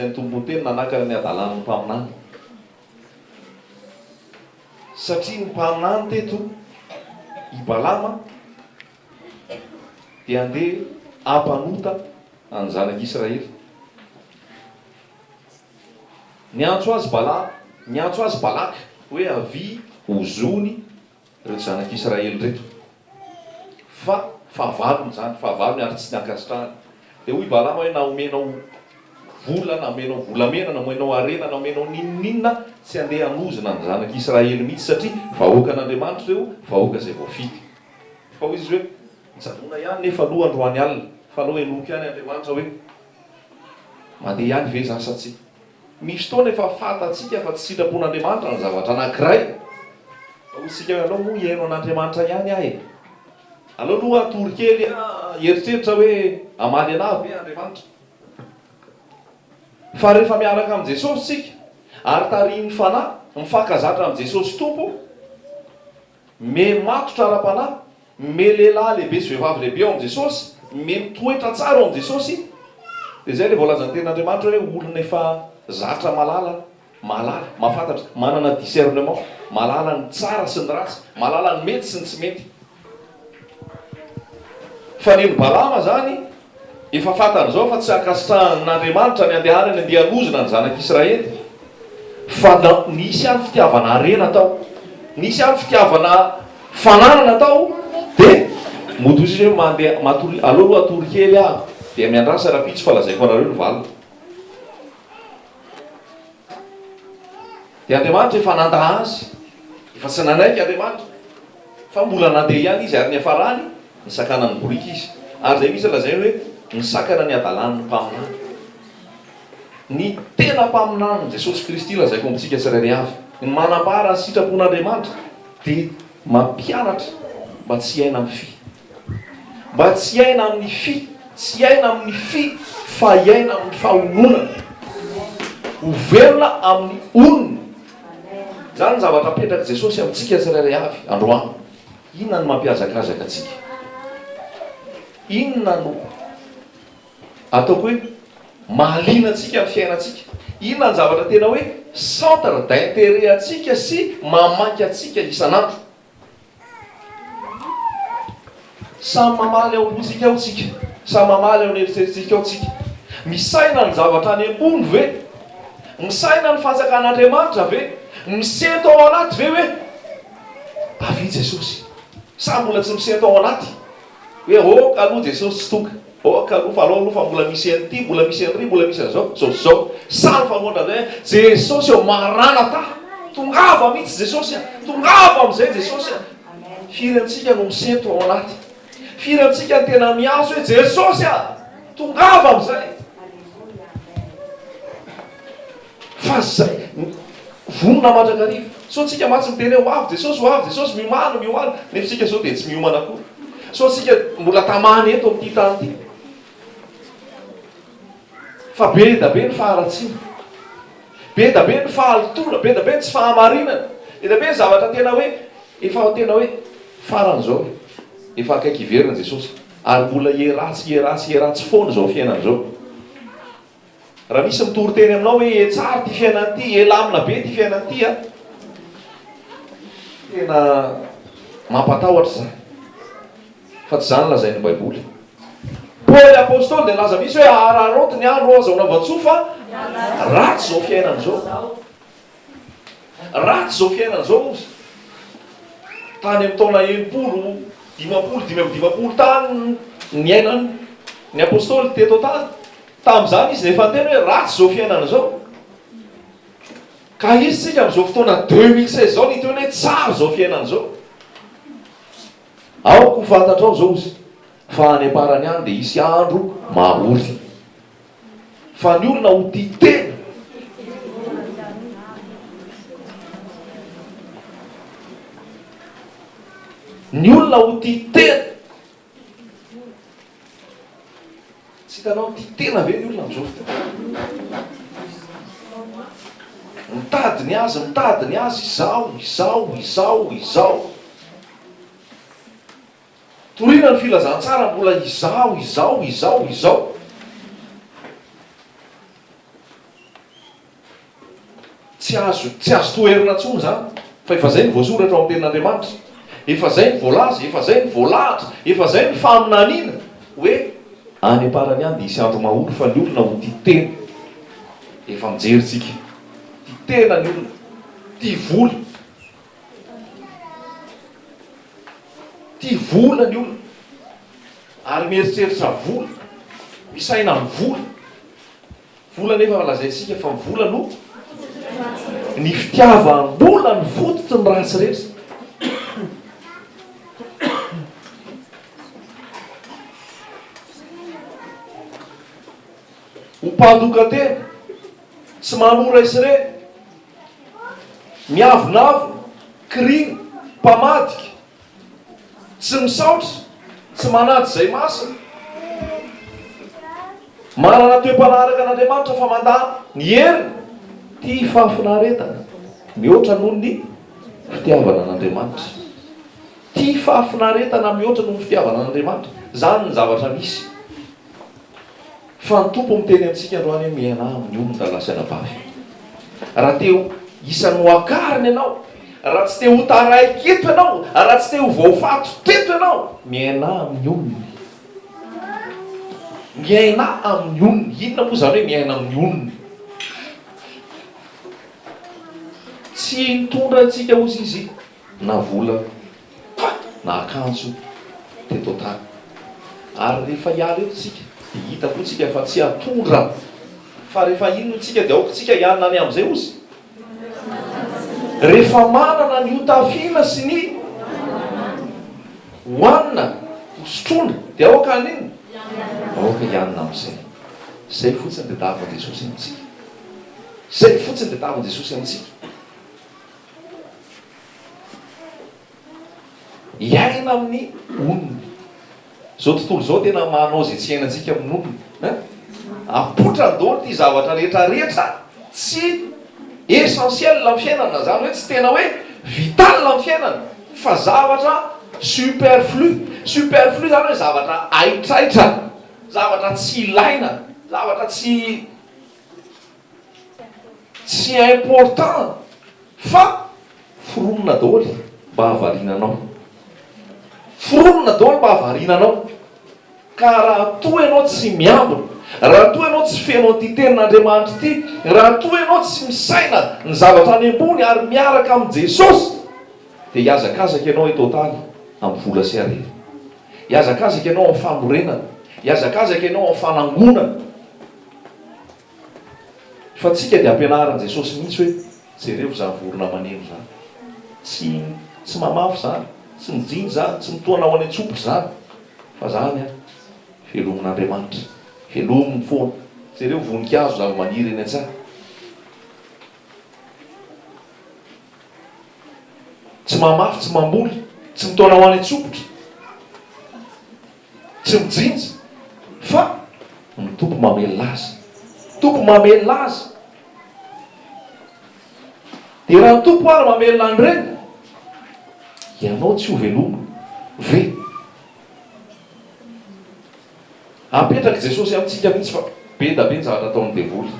Nasain'ny Tompo ho teny nanakana ny hadalan'ny mpaminany. Satria ny mpaminany teto, i Balama, dia handeha hampanota ny zanak'Israely. Niantso azy Bala, niantso azy Balaka hoe avia ho zony ireto zanak'Israely ireto, fa fahavalony izany, fahavalony ary tsy ny ankasitrahany. Dia hoy Balama hoe, Na omenao vola, na omenao volamena, na omenao harena, na omenao n'inon'inona, tsy handeha hanozona ny zanak'Israely mihitsy, satria vahoakan'Andriamanitra ireo, vahoaka izay voafidy. Fa hoy izy hoe, Mijanona ihany nefa aloha androany alina, fa aleo henoiko ihany Andriamanitra hoe, Mandeha ihany ve izany sa tsia? Misy fotoana efa fantatsika fa tsy sitrapon'Andriamanitra ny zavatra anankiray. Fa hoy isika hoe, alao moa hihaino an'Andriamanitra ihany aho e! Alao aloha hatory kely aho hieritreritra hoe hamaly anah ve Andriamanitra? Fa rehefa miaraka amin'i Jesosy isika ary tarihin'ny Fanahy, mifankazatra amin'i Jesosy Tompo, Me matotra ara-panahy, me lehilahy lehibe sy vehivavy lehibe ao amin'i Jesosy, me mitoetra tsara ao amin'i Jesosy, dia izay ilay voalazan'ny Tenin'Andriamanitra hoe olona efa zatra mahalala, mahalala, mahafantatra, manana discernement, mahalala ny tsara sy ny ratsy, mahalala ny mety sy ny tsy mety. Fanen'i Balama izany. Efa fantany izao fa tsy ankasitrahan'Andriamanitra ny handehanany handeha hanozona ny zanak'Israely. Fa nisy ihany fitiavana harena tao. Nisy ihany fitiavana fananana tao. Dia mody hoy Jesosy hoe mandeha, matoria, aleo aloha hatory kely aho, dia miandrasa rahampitso fa lazaiko anareo ny valiny. Dia Andriamanitra efa nanda azy. Efa tsy nanaiky Andriamanitra. Fa mbola nandeha ihany izy ary niafarany nisakana ny boriky izy. Ary izay mihitsy lazainy hoe nisakana ny hadalan'ny mpaminany. Ny tena mpaminany, Jesosy Kristy, lazaiko amintsika tsirairay avy, ny manambara ny sitrapon'Andriamanitra dia mampianatra mba tsy hiaina amin'ny fy. Mba tsy hiaina amin'ny fy, tsy hiaina amin'ny fy fa hiaina amin'ny fahononana. Ho velona amin'ny onona. Izany ny zavatra apetrak'i Jesosy amintsika tsirairay avy androany. Inona no mampihazakazaka antsika? Inona no ataoko hoe mahaliana antsika amin'ny fiainantsika? Inona ny zavatra tena hoe centre d'intérêt antsika sy mamaky antsika isan'andro? Samy mamaly ao am-pontsika ao tsika, samy mamaly ao an'eritreritsintsika ao tsika. Misaina ny zavatra any ambony ve? Misaina ny fanjakan'Andriamanitra ve? Misento ao anaty ve hoe avia Jesosy? Sa mbola tsy misento ao anaty? Hoe ok aloha Jesosy tsy tonga, ok aloha fa alao aloha fa mbola misy an'ity, mbola misy an'iry, mbola misy an'izao, zao sy zao. Sa ny fanohana indray hoe Jesosy ô, Maranatha! Tongava mihitsy Jesosy a! Tongava amin'izay Jesosy a! Firy antsika no misento ao anaty? Firy antsika no tena miantso hoe Jesosy a! Tongava amin'izay! Fa zay, vonona mandrakariva. Sao tsika mantsy miteny hoe ho avy Jesosy, ho avy Jesosy, miomana, miomana, nefa isika izao dia tsy miomana akory. Sao tsika mbola tamany eto amin'ity tany ity. Fa be da be ny faharatsiana. Be da be ny fahalotoana, be da be ny tsy fahamarinana. Be da be ny zavatra tena hoe, efa tena hoe, farany izao e. Efa akaiky hiverina Jesosy. Ary mbola hieratsy, hieratsy, hieratsy foana izao fiainana izao. Raha misy mitory teny aminao hoe ee tsara ity fiainana ity, ee lamina be ity fiainana ity a! Tena mampatahotra izany, fa tsy izany lazain'ny Baiboly. Paoly Apostoly dia nilaza mihitsy hoe, Ahararaoty ny andro aza ho lava-tsoa, fa ratsy izao fiainana izao. Ratsy izao fiainana izao ozy. Tany amin'ny taona enimpolo, dimampolo, dimy amby dimampolo tany niainan ny apostoly teto an-tany. Tamin'izany izy efa niteny hoe ratsy izao fiainana izao. Ka izy tsika amin'izao fotoana 2016 izao niteny hoe tsara izao fiainana izao. Aoka ho fantatrao izao ozy fa any am-parany any dia hisy andro mahory. fa ny olona ho tia tena. Ny olona ho tia tena. Tsy hitanao ny tia tena ve ny olona amin'izao fotoana? Mitady ny azy, mitady ny azy, izao, izao, izao, izao. Torina ny filazantsara mbola izao, izao, izao, izao. Tsy azo, tsy azo toherina intsony izany, fa efa izay no voasoratra ao amin'ny Tenin'Andriamanitra. Efa izay no voalaza, efa izay no voalahatra, efa izay no faminaniana, hoe. Any am-parany any dia hisy andro mahory fa ny olona ho tia tena. Efa mijery isika. Tia tena ny olona. Tia vola. Tia vola ny olona ary mieritreritra vola, misaina amin'ny vola. Vola anefa lazaintsika fa ny vola no ny fitiavam-bola no fototry ny ratsy rehetra. Ho mpandoka tena, tsy manora izy ireny Miavonavona, kirina, mpamadika, tsy misaotra, tsy manaja izay masina, manana toe-panahy araka an'Andriamanitra fa mandà ny heriny, tia fahafinaretana mihoatra noho ny fitiavana an'Andriamanitra. Tia fahafinaretana mihoatra noho ny fitiavana an'Andriamanitra. Izany ny zavatra misy. Fa ny Tompo miteny amintsika androany hoe mialà amin'ny olony raha lahy sy anabavy. Raha te ho isan'ny nohakariny ianao, raha tsy te ho taraiky eto ianao, raha tsy te ho voafato teto ianao, mialà amin'ny olony. Mialà amin'ny olony. Inona moa izany hoe mialà amin'ny olony? Tsy hitondra antsika ho zizi. na vola na akanjo teto an-tany ary rehefa hiala eto tsika dia hita koa tsika fa tsy atondra fa rehefa iny no tsika dia aoka tsika hiala any amin'izay ozy rehefa manana ny hotafiana sy ny hoanina hosotroana dia aoka any iny aoka hianina amin'izay izay fotsiny dia davin'i Jesosy amintsika izay fotsiny dia davin'i Jesosy amintsika Hiaina amin'ny olony. Izao tontolo izao tena manao izay tsy hiainantsika amin'ny olony. Hein? Apoitra ny daholo ity zavatra rehetra rehetra tsy essentiel amin'ny fiainana. Izany hoe tsy tena hoe vital amin'ny fiainana fa zavatra superflu. Superflu izany hoe zavatra haitraitra, zavatra tsy ilaina, zavatra tsy Tsy important fa foronina daholo mba hahavariana anao. Foronina daholo mba hahavariana anao. Ka raha toa ianao tsy miambina, raha toa ianao tsy feno an'ity tenin'Andriamanitra ity, raha toa ianao tsy misaina ny zavatra any ambony ary miaraka amin'i Jesosy, dia hihazakazaka ianao eto an-tany amin'ny vola sy harena. Hihazakazaka ianao amin'ny fanorenana. Hihazakazaka ianao amin'ny fanangonana. Fa tsika dia ampianarin'i Jesosy mihitsy hoe jereo izany vorona maneno izany. Tsy tsy mamafy izany, tsy mijinja izany, tsy mitohana ho any an-tsompitra izany. Fa izany an, velomin'Andriamanitra. Velominy foana. Jereo voninkazo, zava-maniry eny an-tsaha. Tsy mamafy, tsy mamboly, tsy mitohana ho any an-tsompitra. Tsy mijinja fa ny Tompo mamelona azy. Tompo mamelona azy. Dia raha ny Tompo ary mamelona an'ireny, ianao tsy hovelomina ve? Apetrak'i Jesosy amintsika mihitsy fa be da be ny zavatra ataon'ny devoly.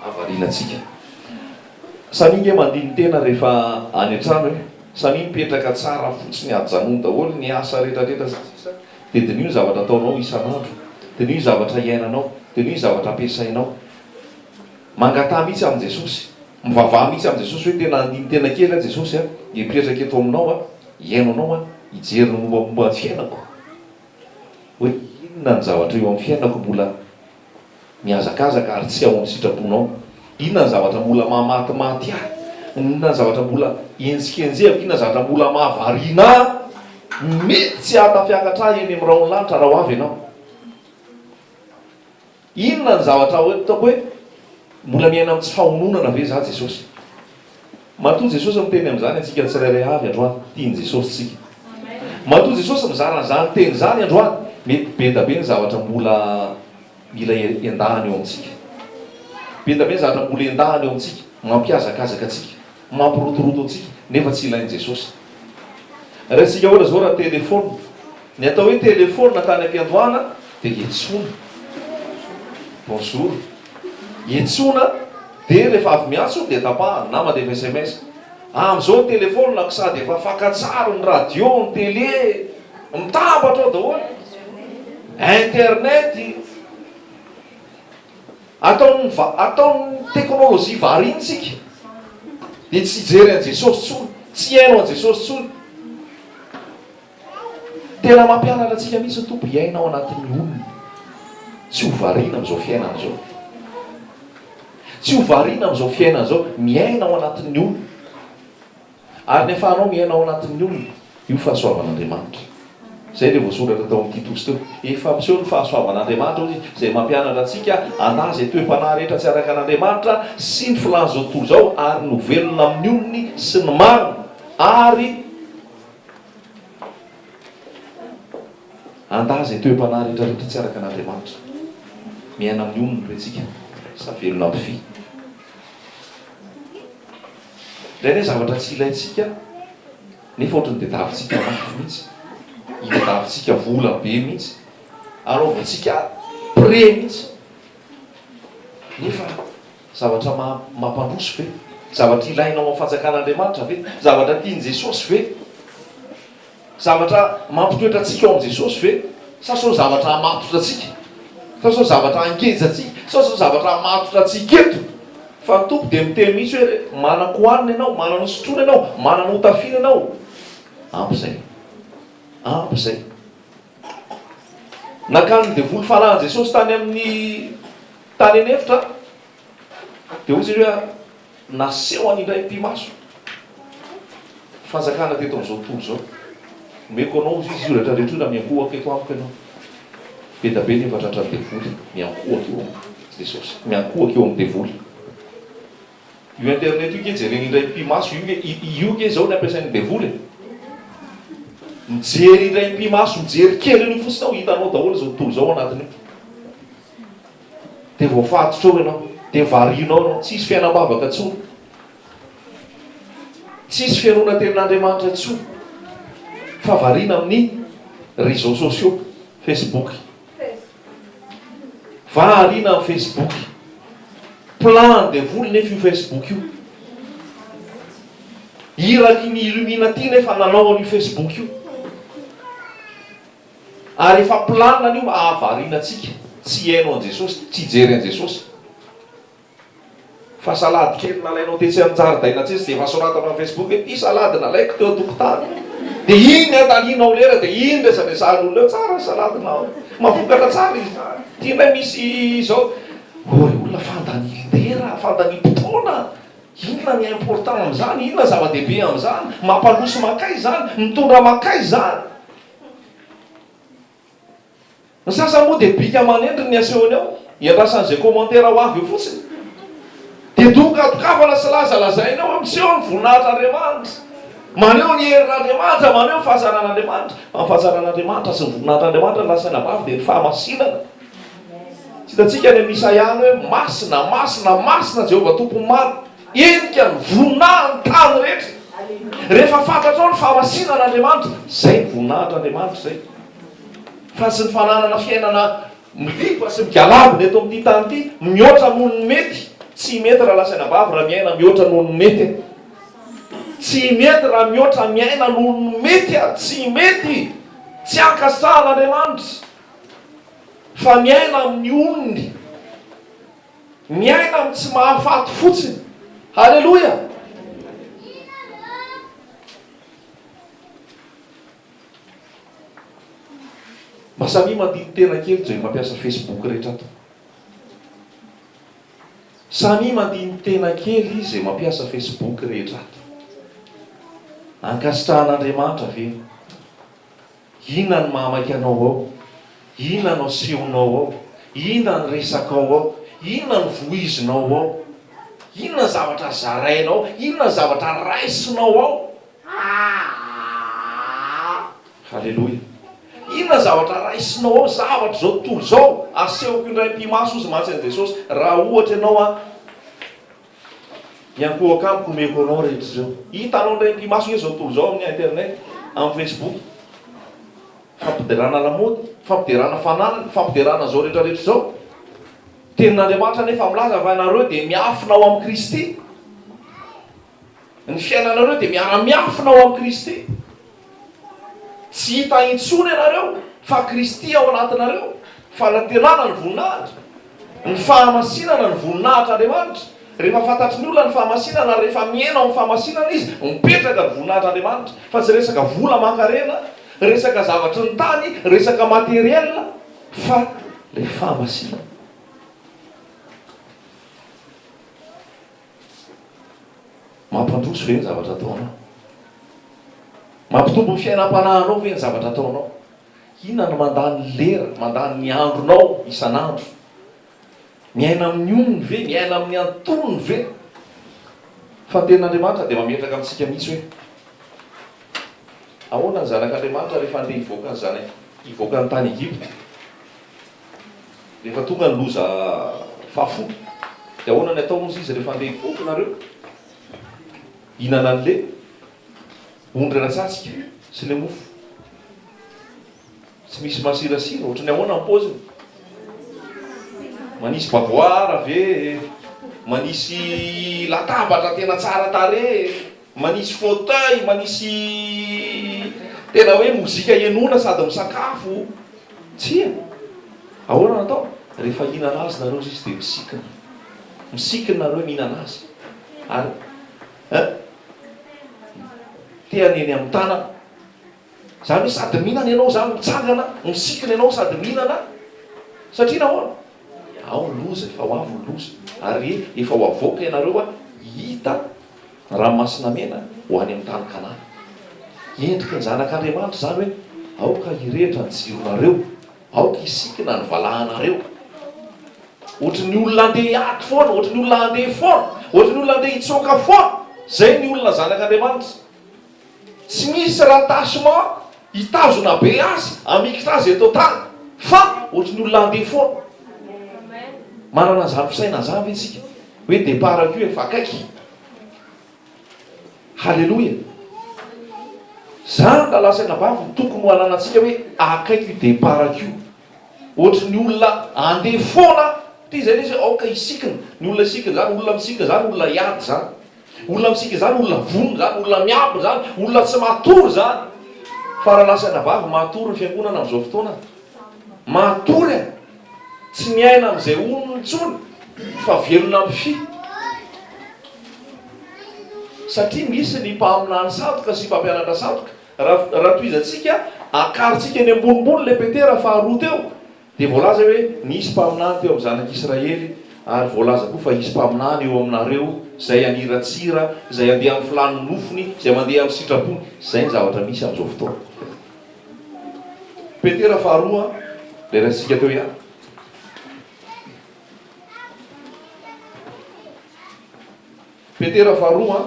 havarianantsika. Samia nge mandini-tena rehefa any an-trano e! Samia mipetraka tsara fotsiny ajanony daholo ny asa retraretra sy ny sisa dia diniho ny zavatra ataonao isan'andro, diniho ny zavatra iainanao, diniho ny zavatra ampiasainao. Mangataha mihitsy amin'i Jesosy, mivavaha mihitsy amin'i Jesosy hoe tena andini-tena kely aho Jesosy a! Mipetraka eto aminao aho, hiaino anao aho, hijery ny mombamomba ny fiainako hoe inona ny zavatra eo amin'ny fiainako mbola. Mihazakazaka ary tsy ao amin'ny sitraponao. Inona ny zavatra mbola mamatimaty ahy? Inona ny zavatra mbola henjikenjehako? Inona ny zavatra mbola mahavariana ahy? Mety tsy hahatafiakatra ahy eny amin'ny rahon'ny lanitra raha ho avy ianao. Inona ny zavatra hoe, ataoko hoe, mbola miaina amin'ny tsy fahononana ve izaho, Jesosy? Matoa Jesosy miteny amin'izany antsika tsirairay avy androany, tian'i Jesosy tsika. Matoa Jesosy mizara an'izany teny izany androany, mety bedabe ny zavatra mbola mila endahany eo amintsika. Bedabe ny zavatra mbola endahany eo amintsika, mampihazakazaka antsika, mampirotoroto antsika, nefa tsy ilain'i Jesosy. Raisintsika ohatra izao raha telefaonina. Ny atao hoe telefaonina tany am-piandohana dia etsona. Bonjour. Etsona dia rehefa avy miantso dia tapahana na mandefa sms. Amin'izao ny telefaonina ko sady efa fakantsary ny radio, ny tele, mitambatra ao daholo. Internet. Ataon'ny va, ataon'ny teknolojia variana isika. Dia tsy hijery an'i Jesosy intsony, tsy hihaino an'i Jesosy intsony. Tena mampianatra antsika mihitsy ny Tompo hiaina ao anatin'ny olona. Tsy ho variana amin'izao fiainana izao. Tsy ho variana amin'izao fiainana izao. Miaina ao anatin'ny olona. Ary ny afahanao miaina ao anatin'ny olona, io fahasoavan'Andriamanitra. Izay ilay voasoratra tao amin'ny Titosy teo. Efa hampiseho ny fahasoavan'Andriamanitra, hoy Izy, izay mampianatra antsika hanahy izay toe-panahy rehetra tsy araka an'Andriamanitra sy ny filàn'izao tontolo izao, ary ny ho velona amin'ny olony sy ny marina, ary. Andaha izay toe-panahy rehetra rehetra tsy araka an'Andriamanitra. Miaina amin'ny onony ve tsika sa velona ampify? Indraindray zavatra tsy ilaintsika nefa ohatran'ny tadiavintsika mafy mihitsy, itadiavintsika vola be mihitsy, anaovantsika prêt mihitsy nefa Zavatra mampandroso ve? Zavatra ilaina ao amin'ny Fanjakan'Andriamanitra ve? Zavatra tian'i Jesosy ve? Zavatra mampitoetra antsika ao amin'i Jesosy ve? Sa sao zavatra hamatotra antsika? Sa sao zavatra hangeja antsika? Sa sao zavatra hamatotra antsika eto? Fa ny Tompo dia miteny mihitsy hoe, Manan-kohanina ianao, manan-hosotroina ianao, manan-hotafiana ianao. Ampy izay. Ampy izay. Nankany ny devoly fanahin'i Jesosy tany amin'ny tany an'efitra, dia hoy izy ireo hoe nasehony indray pi-maso fanjakana teto amin'izao tontolo izao. Omeko anao hoy izy io rehetra rehetra io raha miankohoka eto amiko ianao. Be dia be nefa tratran'ny devoly miankohoka eo amin'i Jesosy, miankohoka eo amin'ny devoly. Io internet io nge jereny indray impi maso io nge io nge zao ny ampiasain'ny devoly e! mijery indray impi maso mijery kely an'io fotsiny ao hitanao daholo zao tontolo zao anatin'io de voafatotra ao ianao de varianao ianao tsisy fiainam-bavaka intsony tsisy fihainoana tenin'Andriamanitra intsony fa variana amin'ny réseaux sociaux facebook Vahariana amin'ny Facebook. Plan an'i devoly nefa io Facebook io. Iraky ny illuminati nefa nanao an'io Facebook io. Ary efa plan-ny io hahavariana antsika tsy hihaino an'i Jesosy, tsy hijery an'i Jesosy. Fa salade kely nalainao tetsy an-jaridaina tetsy dia efa soratanao amin'ny Facebook hoe ity salade nalaiko teo an-tokotany. Dia iny ny andanianao lera dia iny resadresahan'olona eo, tsara ny salade-nao, mahavokatra tsara izy izany. Ity indray misy izao, ory olona fandanian-dera, fandaniam-potoana. Inona ny important amin'izany? Inona ny zava-dehibe amin'izany? Mampandroso mankaiza izany? Mitondra mankaiza izany? Ny sasany moa dia bika aman'endriny ny asehony ao, iandrasan'izay commentaire ho avy eo fotsiny. Dia dokan-dokafana sy lazalazaina eo, miseho ny voninahitr'Andriamanitra, maneho ny herin'Andriamanitra, maneho ny fahazaran'Andriamanitra. Fa ny fahazaran'Andriamanitra sy ny voninahitr'Andriamanitra no lazaina ho avy dia ny fahamasinana. Tsy hitantsika any amin'i Isaia any hoe, Masina, masina, masina Jehovah Tompon'ny maro. Henika ny voninahiny ny tany rehetra. Rehefa fantatrao ny fahamasinana Andriamanitra, izay ny voninahitr' Andriamanitra izay. Fa tsy ny fananana fiainana miriva sy migalabona eto amin'ity tany ity, mihoatra noho ny mety, tsy mety raha lazaina am-bava raha miaina mihoatra noho ny mety e. Tsy mety raha mihoatra miaina noho ny mety ary tsy mety, tsy ankasitrahan' Andriamanitra, fa miaina amin'ny onony. Miaina amin'ny tsy mahafaty fotsiny. Haleloia! Mba samia mandini tena kely izay mampiasa Facebook rehetra ato. Samia mandini tena kely izay mampiasa Facebook rehetra ato. Ankasitrahan'Andriamanitra ve? Inona ny mahamaika anao ao? Inona no asehonao ao? Inona ny resakao ao? Inona no vohizinao ao? Inona ny zavatra zarainao ao? Inona ny zavatra raisinao ao? Haleloia! Inona ny zavatra raisinao ao? Zavatra izao tontolo izao, asehoko indray am-pimaso hozy mantsy an'i Jesosy, raha ohatra ianao an, Miankohoka amiko omeko anao rehetra izao. Hitanao indray ampimaso ve izao tontolo izao amin'ny internet, amin'ny facebook. Fampiderana lamaody, fampiderana fananana, fampiderana izao rehetra rehetra izao. Tenin'Andriamanitra anefa milaza fa ianareo dia miafina ao amin'i Kristy. Ny fiainanareo dia miara-miafina ao amin'i Kristy. Tsy hita intsony ianareo fa Kristy ao anatinareo, fanantenana ny voninahitra, ny fahamasinana ny voninahitr'Andriamanitra. Rehefa fantatry ny olona ny fahamasinana ary rehefa mihena ao amin'ny fahamasinana izy, mipetraka ny voninahitr'Andriamanitra. Fa tsy resaka vola aman-karena, resaka zavatry ny tany, resaka matériel, fa ilay fahamasinana. Mampandroso ve ny zavatra ataonao? Mampitombo ny fiainam-panahinao ve ny zavatra ataonao? Inona no mandany lera, mandany ny andronao isan'andro? Miaina amin'ny onony ve? Miaina amin'ny antonony ve? Fa ny tenin'Andriamanitra dia mametraka amintsika mihitsy hoe ahoana ny zanak'Andriamanitra rehefa andeha hivoaka ny zana-, hivoaka ny tany Egypta. Rehefa tonga ny loza fahafolo dia ahoana ny ataony hozy izy rehefa handeha hivoaka nareo? Hinana an'le ondry ara-tsatsika sy le mofo tsy misy masirasira, ohatran'ny ahoana ny paoziny? Manisy bavoara ve e? Manisy latabatra tena tsara tarehy e? Manisy fauteuil, manisy tena hoe mozika henoina sady misakafo. Tsia. Ahoana no atao? Rehefa hihinana azy nareo izy dia misikina. Misikina nareo mihinana azy. Ary eh? Tehany eny amin'ny tanana. Zany hoe sady mihinana ianao zany mitsangana misikina ianao sady mihinana satria nahoana? Ao ny loza efa ho avy ny loza ary efa ho avoaka ianareo a hita ny ranomasina mena ho any amin'ny tany kanana. Endriky ny zanak'Andriamanitra izany hoe aoka hirehitra ny jironareo, aoka hisikina ny valahanareo. Ohatry ny olona andeha hiady foana, ohatry ny olona handeha foana, ohatry ny olona andeha hitsoaka foana, zay ny olona zanak'Andriamanitra. Tsy misy rattachement hitazona be azy hamikitra azy eto an-tany fa ohatry ny olona handeha foana. Manana an'izany fisainana izany ve isika? Hoe départ-ko io efa akaiky. Haleloia! Izany ny lalà sainabavy no tokony ho ananantsika hoe akaiky io départ-ko io. Ohatry ny olona handeha foana aho. Ity izay lesy hoe aoka hisikina. Ny olona hisikina izany, olona misikina izany olona hiady izany. Olona mitsiky izany, olona vonona izany, olona miabo izany, olona tsy matory izany. Fa raha lasa anabavy matory ny fiangonana amin'izao fotoana, matory e! Tsy miaina amin'izay onony intsony fa velona amin'ny fy. Satria misy ny mpaminany sandoka sy mpampianatra sandoka, raha tohizantsika, akarintsika eny ambonimbony ilay Petera faharoa teo. Dia voalaza hoe, Nisy mpaminany teo amin'ny zanak'Israely, ary voalaza koa fa hisy mpaminany eo aminareo, izay haniratsira, izay handeha amin'ny filàn'ny nofony, izay mandeha amin'ny sitrapony. Izay ny zavatra misy amin'izao fotoana. Petera faharoa, ilay raisintsika teo ihany. Petera faharoa.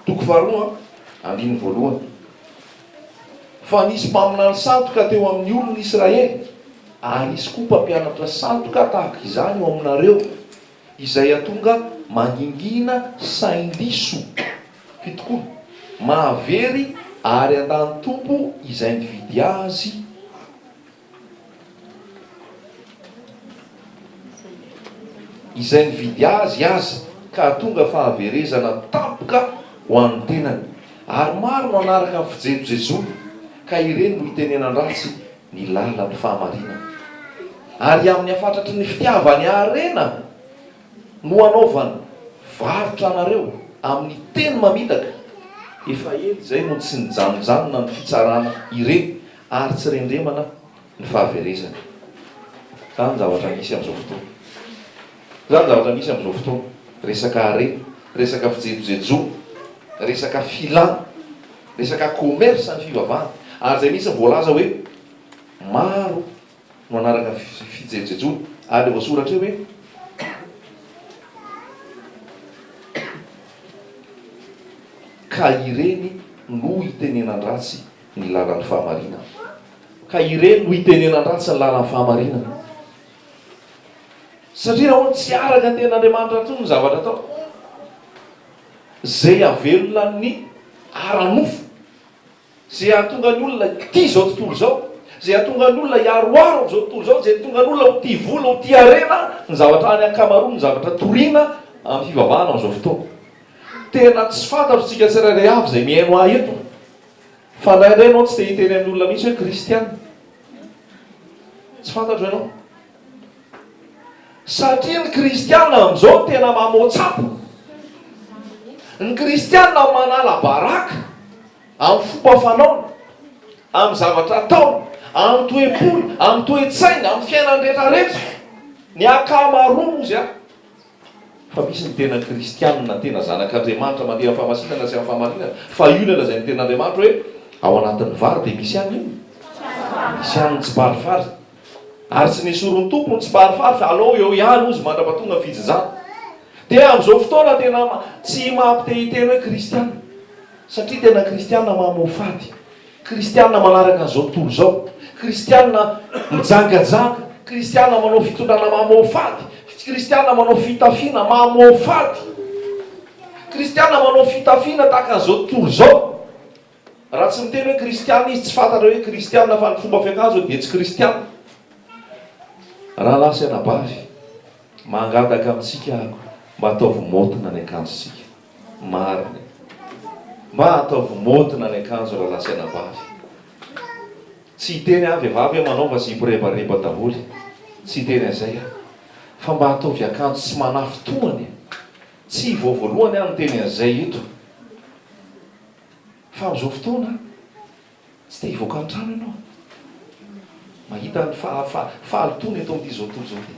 Toko faharoa, andininy voalohany. Fa nisy mpaminany sandoka teo amin' ny olon' Israely, ary hisy koa mpampianatra sandoka tahaka izany eo aminareo, izay hatonga mangingina sain-diso, fitokoa, mahavery ary handan'ny Tompo izay nividy azy, izay nividy azy aza ka hahatonga fahaverezana tampoka ho an'ny tenany, ary maro no hanaraka ny fijejojejony ka ireny no hitenenan-dratsy ny lalan'ny fahamarinana, ary amin'ny hafatratry ny fitiavany harena no hanaovany varotra anareo amin'ny teny mamitaka, efa ela izay no tsy nijanonjanona ny fitsarana ireny Ary tsy rendremana ny fahaverezany. Izany zavatra misy amin'izao fotoana. Izany zavatra misy amin'izao fotoana. Resaka harena, resaka fijejojejo, resaka filana, resaka commerce ny fivavahana. Ary izay mihitsy no voalaza hoe maro no hanaraka ny fijejejony. Ary ilay voasoratra eo hoe, ka ireny no itenenan-dratsy ny lalan'ny fahamarinana. Ka ireny no itenenan-dratsy ny lalan'ny fahamarinana. Satria nahoana? Tsy araka ny tenin'Andriamanitra intsony ny zavatra atao. Izay havelona ny ara-nofo, izay hahatonga ny olona hitia izao tontolo izao, izay hahatonga ny olona hiaroaro amin'izao tontolo izao, izay hahatonga ny olona ho tia vola, ho tia harena, ny zavatra any ankamaroan' ny zavatra toriana amin'ny fivavahana amin'izao fotoana. Tena tsy fantatro tsika tsirairay avy izay mihaino ahy eto. Fa indraindray ianao tsy dia hita eny amin'ny olona mihitsy hoe kristiana. Tsy fantatro ianao. Satria ny kristiana amin'izao no tena mamoatsapo. Ny kristiana manala baraka amin'ny fomba fanaony, amin'ny zavatra ataony, amin'ny toe-pony, amin'ny toe-tsainy, amin'ny fiainany rehetrarehetra. Ny ankamaroany hozy an. Fa misy ny tena kristianina, tena zanak'Andriamanitra mandeha amin'ny fahamasinana sy amin'ny fahamarinana, fa io no lazain'ny Tenin'Andriamanitra hoe, Ao anatin'ny vary dia misy ihany inona? Misy ihany ny tsiparifary. Ary tsy nesorin'ny Tompo ny tsiparifary, fa alao eo ihany hozy mandra-pahatonga ny fijinjana. Dia amin'izao fotoana tena tsy maha-mpitehiteny hoe kristianina, satria tena kristianina mamoafady. Kristiana manaraka an'izao tontolo izao, Kristiana mijangajanga, Kristiana manao fitondrana mamoafady, Kristiana manao fitafiana mamoafady, Kristiana manao fitafiana tahaka an'izao tontolo izao. Raha tsy miteny hoe Kristiana izy, tsy fantatra hoe Kristiana fa ny fomba fiakanjony dia tsy Kristiana. Rahalahy sy anabavy, mangataka amintsika aho mba ataovy maotina ny akanjontsika. Marina. Mba ataovy môdina ny akanjo raha lasaina bavy. Tsy hiteny aho vehivavy hoe manaova zipo rebareba daholo. Tsy hiteny an'izay aho. Fa mba ataovy akanjo tsy manafy tohana e. Tsy vao voalohany aho niteny an'izay eto. Fa amin'izao fotoana. Tsy te hivoaka an-trano ianao. Mahita ny fahalotoana eto amin'ity izao tontolo izao ity.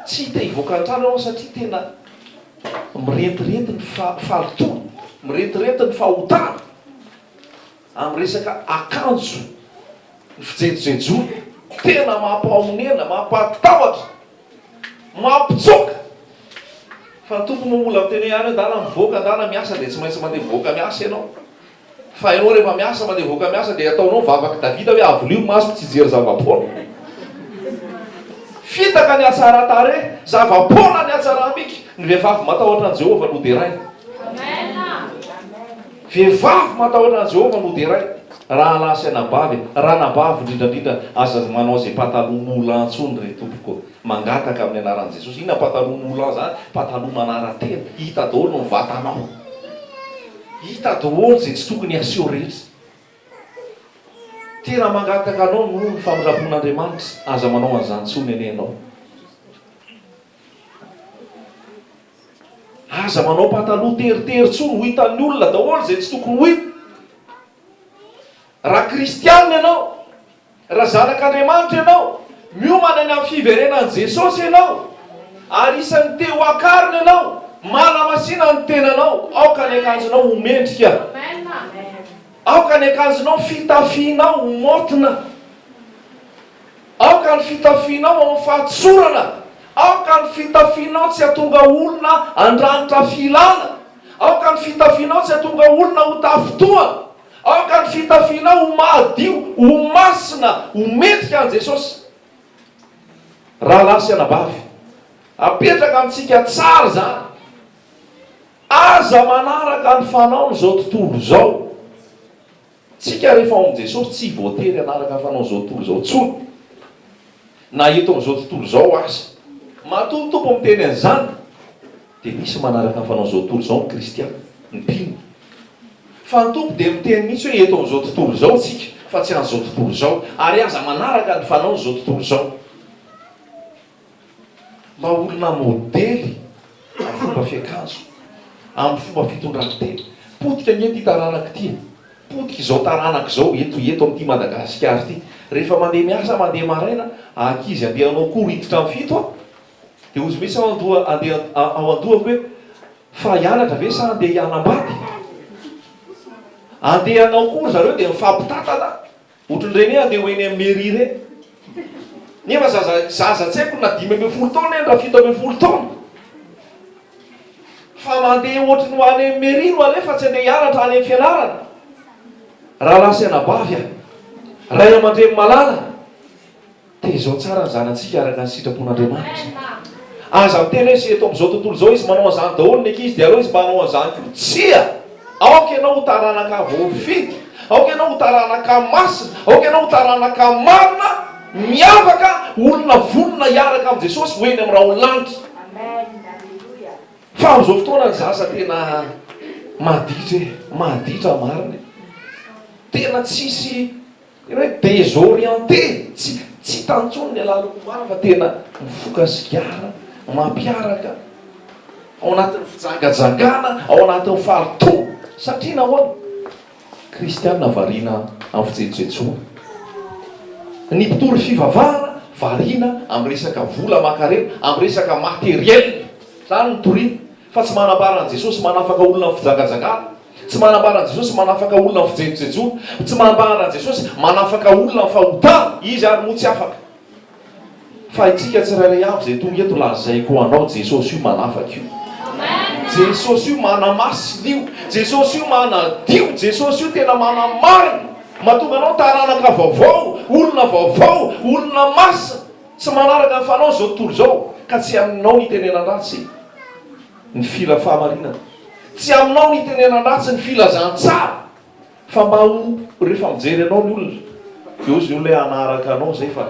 Tsy te hivoaka an-trano ianao satria tena mirentirety ny fahalotoana, mirentirety ny fahotana amin'ny resaka akanjo, ny fijejojejoana. Tena mampahaonena, mampahatahotra Mampitsoaka fa Tompo no mbola miteny hoe any adala mivoaka adala miasa dia tsy maintsy mandeha mivoaka miasa ianao fa ianao rehefa miasa mandeha mivoaka miasa dia ataonao vavak'i Davida hoe avolio masoko tsy hijery zava-poana fitaka ny hatsaran-tarehy zava-poana ny hatsaram-bika ny vehivavy matahotra an'i Jehovah no deraina. Vehivavy matahotra an'i Jehovah no deraina, rahalahy sy anabavy e! Ranabavy indrindra indrindra, aza manao izay pataloha moulant intsony ry tompoko. Mangataka amin'ny anaran'i Jesosy. Inona pataloha moulant izany? Pataloha manara-tena. Hita daholo ny vatanao. Hita daholo izay tsy tokony haseho rehetra. Tena mangataka anao noho ny famindrampon'Andriamanitra, aza manao an'izany intsony anie ianao. Aza manao pataloha teritery tsony ho hitan'ny olona daholo izay tsy tokony ho hita. Raha kristianina ianao, raha zanak'Andriamanitra ianao, miomana ny amin'ny fiverenan'i Jesosy ianao, ary isan'ny te ho akarina ianao, manamasina ny tenanao, aoka ny akanjonao ho mendrika, aoka ny akanjonao, fitafianao ho maotina. Aoka ny fitafianao ho amin'ny fahatsorana. Aoka ny fitafianao tsy hahatonga olona handranitra filana. Aoka ny fitafianao tsy hahatonga olona ho tafintohana. Aoka ny fitafianao ho mahadio, ho masina, ho mendrika an'i Jesosy. Rahalahy sy anabavy, apetraka amintsika tsara izany. Aza manaraka ny fanaon'izao tontolo izao. Tsika rehefa ao amin'i Jesosy tsy voatery hanaraka fanao izao tontolo izao intsony, na eto amin'izao tontolo izao aza. Matoa ny Tompo miteny an'izany, dia misy ny manaraka ny fanao izao tontolo izao ny kristiana, ny mpino. Fa ny Tompo dia miteny mihitsy hoe eto amin'izao tontolo izao tsika, fa tsy an'izao tontolo izao, ary aza manaraka ny fanaon'izao tontolo izao. Mba olona modely amin'ny fomba fiakanjo, amin'ny fomba fitondran-tena. Potika anie ity taranaka ity e! Potika izao taranaka izao eto eto amin'ity Madagasikara ity. Rehefa mandeha miasa mandeha maraina, ankizy andeha hanao cours hiditra amin'ny fito a! Dia hozy mihitsy ao an-doha andeha ao an-dohako hoe, fa hianatra ve sa andeha hianambady? Andeha hanao cours zareo dia mifampitantana Otrn'ireny hoe andeha ho eny amin'ny mairie ireny. Nefa zaza zaza tsy haiko na dimy ambin'ny folo taona eny na fito ambin'ny folo taona. Fa mandeha ohatry ny ho any amin'ny mairie no aleha fa tsy andeha hianatra any amin'ny fianarana. Rahalahy sy anabavy a! Ray aman-dreny malala! Tezao tsara ny zanatsika araka ny sitrapon'Andriamanitra. Aza miteny hoe eto amin'izao tontolo izao izy manao an'izany daholo ny ankizy dia aleo izy mba hanao an'izany koa. Tsia! Aoka ianao ho taranaka voafidy, aoka ianao ho taranaka masina, aoka ianao ho taranaka marina, miavaka, olona vonona hiaraka amin'i Jesosy ho eny amin'ny raholanitra. Fa amin'izao fotoana ny zaza tena maditra e! Maditra marina e! Tena tsisy. Ny hoe desorienté, tsy tsy hita intsony ny alalako omaly fa tena mifoka sigara, mampiaraka, ao anatin'ny fijangajangana, ao anatin'ny fahalotoana. Satria nahoana? Kristiana variana amin'ny fijetsojetsoana. Ny mpitory fivavahana variana amin'ny resaka vola aman-karena, amin'ny resaka matériel. Izany no toriana. Fa tsy manambara an'i Jesosy manafaka olona amin'ny fijangajangana. Tsy manambara an'i Jesosy manafaka olona amin'ny fijejojejoana. Tsy manambara an'i Jesosy manafaka olona amin'ny fahotana. Izy àry moa tsy afaka. Fa itsika tsirairay avy izay tonga eto, lazaiko ho anao, Jesosy io manafaka io. Jesosy io manamasina io. Jesosy io manadio. Jesosy io tena manamarina. Mahatonga anao taranaka vaovao, olona vaovao, olona masina. Tsy manaraka ny fanao izao tontolo izao, ka tsy aminao ny itenenan-dratsy ny fila fahamarinana. Tsy aminao ny itenenan-dratsy ny filazan-tsara, fa mba ho rehefa mijery anao ny olona, dia hozy ny olona hoe hanaraka anao izay fa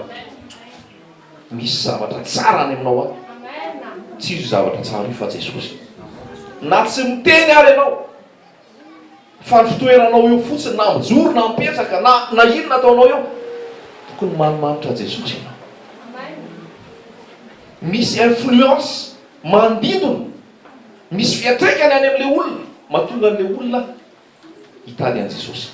misy zavatra tsara any aminao any. Tsy iza io zavatra tsara io fa Jesosy. Na tsy miteny ary ianao. Fa ny fitoeranao eo fotsiny na mijoro na mipetraka na na inona ataonao eo, tokony manimanitra an'i Jesosy ianao. Misy influence manodidina, misy fiantraikany any amin'ilay olona mahatonga an'ilay olona hitady an'i Jesosy.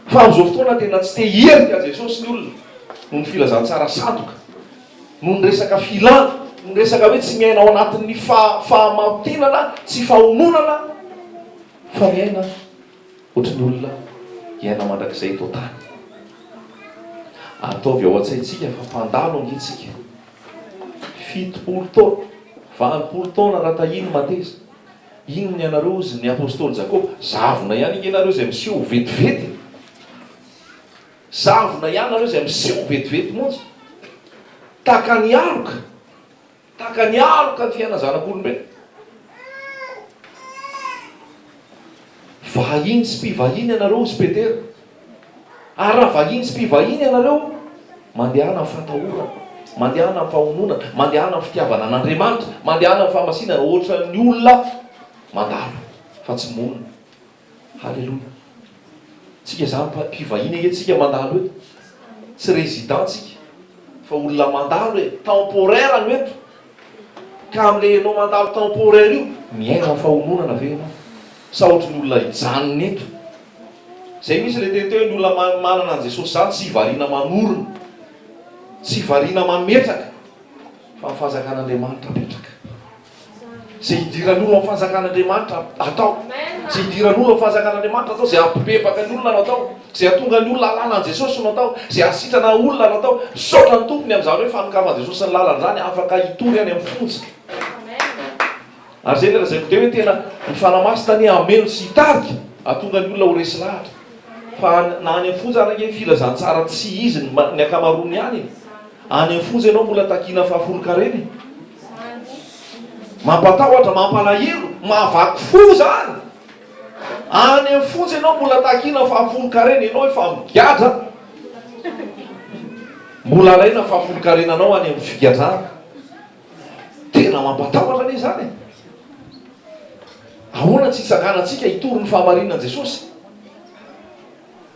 Fa amin'izao fotoana tena tsy te hierika an'i Jesosy ny olona noho ny filazantsara sandoka. Noho ny resaka filana, noho ny resaka hoe tsy miaina ao anatin'ny fahamarotenana sy fahononana fa miaina ohatry ny olona hiaina mandrakizay eto an-tany. Ataovy ao an-tsaintsika fa mpandalo ange tsika. Fitopolo taona, valopolo taona raha tahiany mateza. Inona ny anareo hozy ny apostoly Jakoba, zavona ihany ange nareo izay miseho ho vetivety. Zavona ianareo izay miseho vetivety monja tahaka ny aloka, tahaka ny aloka ny fiainan'ny zanak'olombelona. Vahiny sy mpivahiny ianareo, hozy Petera. Ary raha vahiny sy mpivahiny ianareo, mandehana amin'ny fatahorana, mandehana amin'ny fahononana, mandehana amin'ny fitiavana an'Andriamanitra, mandehana amin'ny fahamasinana, hoatran'ny olona mandalo fa tsy monina. Haleloia. Tsika zany mpa mpivahiny ange tsika mandalo eto. Tsy resident tsika. Fa olona mandalo e. Temporaire no eto. Ka am le enao mandalo temporaire io, miaina am fahononana ve enao? Sa ohatry ny olona hijanona eto? Zay mintsy le teny teo hoe ny olona ma manana an Jesosy zany tsy variana manorina. Tsy variana mametraka. Fa am fahazakana Andriamanitra apetraka. Izay idiran'ny olona ny fanjakan'Andriamanitra atao. Izay idiran'ny olona ny fanjakan'Andriamanitra atao. Izay hampibebaka ny olona no atao. Izay hahatonga ny olona hahalala an'i Jesosy no atao. Izay hahasitrana olona no atao. Misaotra ny Tompo ny amin'izany hoe fanokafan'i Jesosy ny lalany izany afaka hitory any amin'ny fonja. Ary izay ilay lazaiko dia hoe tena ny Fanahy Masina anie hameno sy hitarika hahatonga ny olona ho resy lahatra. Fa na any amin'ny fonja ary ange filazantsara tsy izy ny ankamaroany ihany e. Any amin'ny fonja ianao mbola takiana fahafolonkarena e. Mampatahotra, mampalahelo, mahavaky fo izany! Any amin'ny fonja ianao mbola takiana fahafolonkarena, ianao efa migadra, mbola alaina fahafolonkarenanao any amin'ny figadrana. Tena mampatahotra anie izany e! Ahoana tsy hitsanganantsika hitory ny fahamarinan'i Jesosy?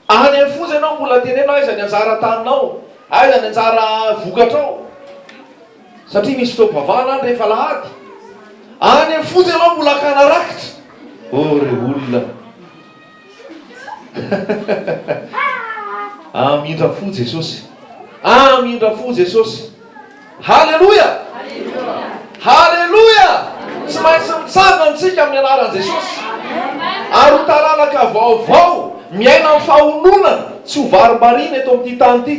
Any amin'ny foza ianao mbola teneno aiza ny anjara taninao, aiza ny anjara vokatrao satria misy fotoam-pivavahana any rehefa alahady. Any amin'ny foza ianao mbola akana rakitra. Oh ry olona a! Amindra fo Jesosy a! Amindra fo Jesosy. Haleloia! Haleloia! Tsy maintsy mitsangana isika amin'ny anaran'i Jesosy. Ary ho taranaka vaovao, miaina amin'ny fahononana, tsy ho varimbariana eto amin'ity tany ity.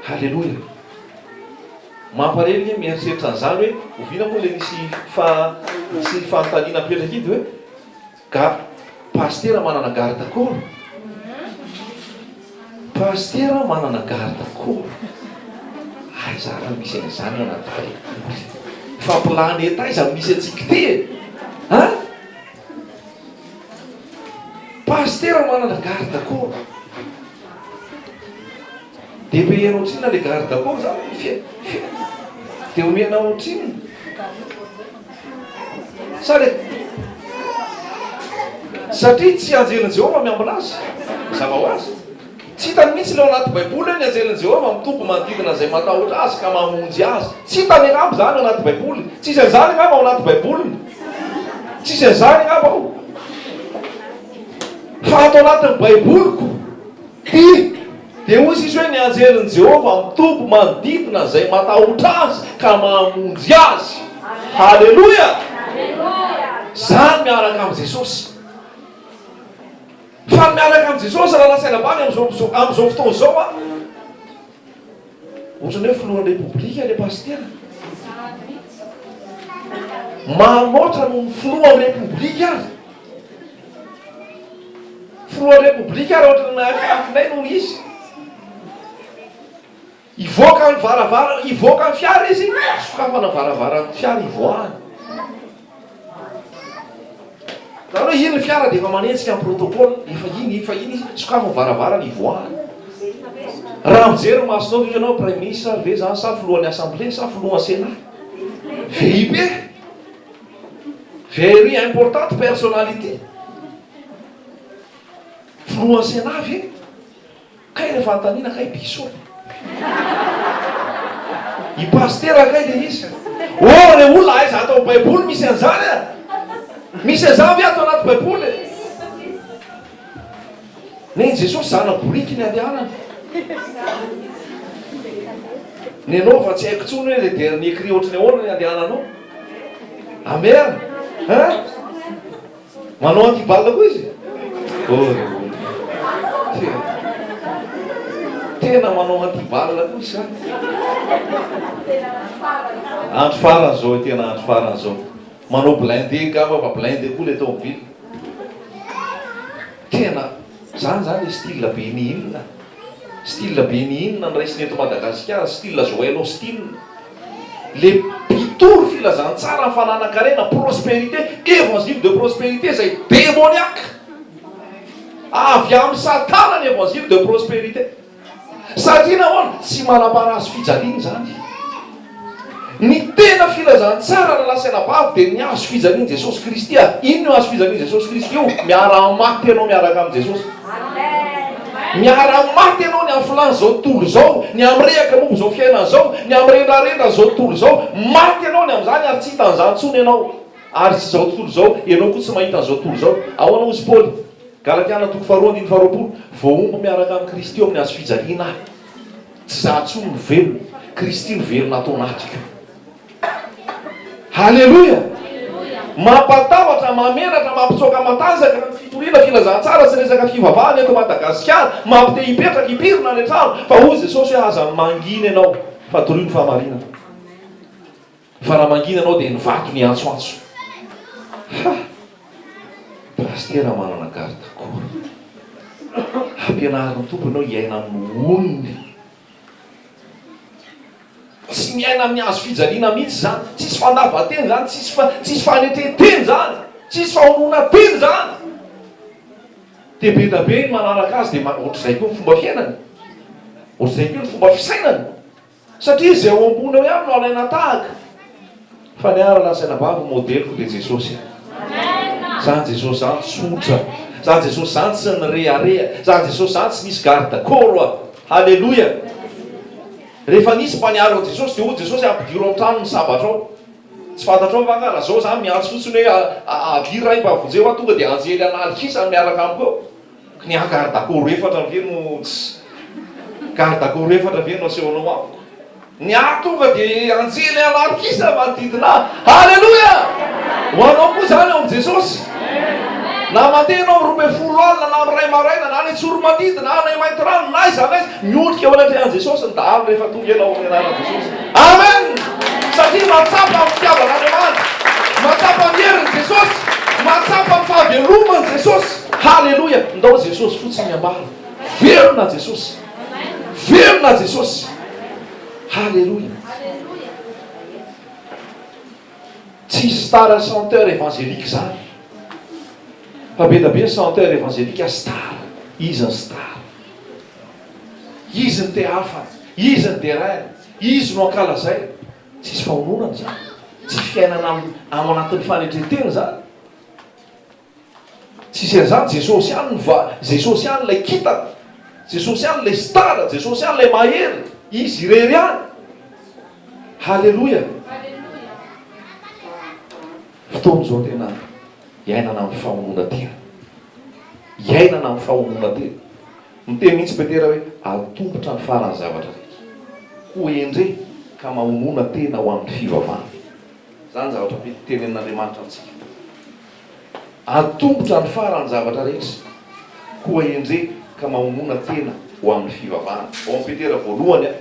Haleloia! Mampalahelo ange mieritreritra an'izany hoe oviana moa ilay nisy fa nisy fanontaniana napetraka iny dia hoe. Garde, Pasitera manana garde corps? Pasitera manana garde corps? Aiza ary no misy an'izany ao anaty baiboly? Fa planeta aiza no misy antsika ity e? An? Pasitera manana garde corps? Dia omehana ohatrinona le garde du corps zany ny fiainana? Dia omehana ohatrinona? Sa le satria tsy anjelin'i Jehovah miambina azy? Mazava ho azy. Tsy hitany mihitsy ilay ao anaty Baiboly hoe ny anjelin'i Jehovah mitombo manodidina izay matahotra azy ka mamonjy azy. Tsy hitany angamba izany ao anaty Baiboly. Tsisy an'izany angamba ao anaty Baiboly. Tsisy an'izany angamba ao. Fa ato anatin'ny Baiboly koa. Hi! Dia hoy Zisy hoe, Ny anjelin'i Jehovah mitombo manodidina izay matahotra azy ka mamonjy azy. Haleloia! Zany miaraka amin'i Jesosy. Fa ny miaraka amin'i Jesosy raha lazaina bany amin'izao fotoana izao an! Ohatran'ny hoe filohan'ny repoblika ilay pasitera. Maro loatra noho ny filohan'ny repoblika aza. Filohan'ny repoblika ary ohatran'ny mahafinafinay noho izy. Hivoaka ny varavara, hivoaka ny fiara izy, sokafana ny varavaran'ny fiara hivoahany. Zany hoe iny ny fiara dia efa manenjika ny protocole, efa iny, efa iny izy, sokafy ny varavarana hivoahany. Raha mijery ny masonao ve ianao praiminisitra ve zany sa filohan'ny assemblée sa filohan'ny senat? VIP e! Very important personality! Filohan'ny senat ve? Kay le fanontaniana kay bisou e. I pasitera kay le izy. Oh le olona aiza ato am baiboly misy anzany a? Misy anzany ve ato anaty baiboly e? Nen'i Jesosy zana boriky ny andehanany. Nenao fa tsy haiko intsony hoe le dernier cri ohatran'ny ahoana ny andehananao. Amen. Hein? Manao anti balle koa izy? Oh ry olona. Tena manao anti balle koa sa? Andro farany zao, tena andro farany zao. Manao blindé angamba fa blindé koa le tomobile. Tena zany zany le style ben'ny inona? Style ben'ny inona no raisina eto Madagasikara? Style Joël Austin? Le mpitory filazantsara ny fananan-karena, prospérité, évangile de prospérité izay demoniaque. Avy amin'i Satana ny évangile de prospérité. Satria nahoana? Tsy manam-parasy fijaliana izany. Ny tena filazantsara na lasa anabavy dia ny hazo fijalian'i Jesosy Kristy. Inona io hazo fijalian'i Jesosy Kristy io? Miara-maty ianao miaraka amin'i Jesosy. Miaraha maty ianao ny afolahy zao tontolo izao, ny amirehaka momba izao fiainana izao, ny amirendrarendra zao tontolo izao, maty ianao ny amin'izany ary tsy hita an'izany intsony ianao ary tsy izao tontolo izao, ianao koa tsy mahita an'izao tontolo izao. Ahoana hozy Paoly? Galatiana toko faharoa andininy faharoapolo, Voahombo miaraka amin'i Kristy eo amin'ny hazo fijaliana aho, tsy za intsony no velona, Kristy no velona ato anatiko. Haleloia! Mampatahotra, mahamenatra, mampitsoaka matanjaka ny fitoriana, filazantsara sy resaka fivavahana eto Madagasikara. Mampite hipetraka, hipirina any an-trano. Fa hoy Jesosy hoe aza mangina ianao fa torio ny fahamarinana. Fa raha mangina ianao dia ny vato no hiantsoantso. Ha! Pasitera manana garde corps. Ampianarin'ny Tompo ianao hiaina amin'ny onony. Tsy miaina amin'ny hazo fijaliana mihitsy izany. Tsisy fandavan-teny izany, tsisy fa tsisy fanetren-teny izany, tsisy fahononan-teny izany. Dia be dia be ny manaraka azy dia ohatr'izay koa ny fomba fiainany, ohatr'izay koa ny fomba fisainany, satria izay ao ambony ao ihany no alaina tahaka. Fa ny ahy raha lazaina ambavy modeliko dia Jesosy e. Zany Jesosy zany tsotra. Zany Jesosy zany tsy nirehareha. Zany Jesosy zany tsy nisy garde corps a. Haleloia. Rehefa nisy mpaniaro an'i Jesosy dia hoy Jesosy ampidiro ao an-trano ny sabatra ao. Tsy fantatrao va nga raha zao za miantso fotsiny hoe avia ray mba vonjeo aho tonga dia anjely an'aly kisa no miaraka amiko eo. Ka ny ahy garde à corps efatra ve no tsy garde à corps efatra ve no asehonao amiko? Ny ahy tonga de anjely alarokisa manodidina ahy. Haleloia! Ho anao koa zany ao amin'i Jesosy. Na mandeha ianao amin'ny roa ambin'ny folo alina na amin'ny iray maraina na any Tsoromandidy na any Maintirano na aiza na aiza, miondrika eo anatrehan'i Jesosy ny dahalo rehefa tonga ianao amin'ny anaran'i Jesosy. Amen! Satria mahatsapa ny fitiavan'Andriamanitra, mahatsapa ny herin'i Jesosy, mahatsapa ny fahaveloman'i Jesosy. Haleloia! Ndao Jesosy fotsiny miambara. Velona Jesosy! Velona Jesosy! Haleloia! Tsy star chanteur evangelique zany. Fa be da be ny chanteur evangelique star. Izy ny star. Izy ny te hafa. Izy ny deraina. Izy no ankalazaina. Tsisy fahononana zany. Tsy fiainana ao anatin'ny fanetren-tena zany. Tsisy an'izany, Jesosy ihany no va, Jesosy ihany ilay kintana, Jesosy ihany ilay star, Jesosy ihany ilay mahery, Izy irery ihany. Haleloia. Fotoana izao tena iainana amin'ny famonoana tena. Iainana amin'ny famonoana tena. Miteny mihitsy Petera hoe atombotra ny faran'ny zavatra rehetra. Ho endre ka mahonoana tena ho amin'ny fivavahana. Izany zavatra mety tenenin'Andriamanitra amintsika. Atombotra ny faran'ny zavatra rehetra, koa endrey ka mahomona tena ho amin'ny fivavahana. Ao amin'i Petera voalohany a.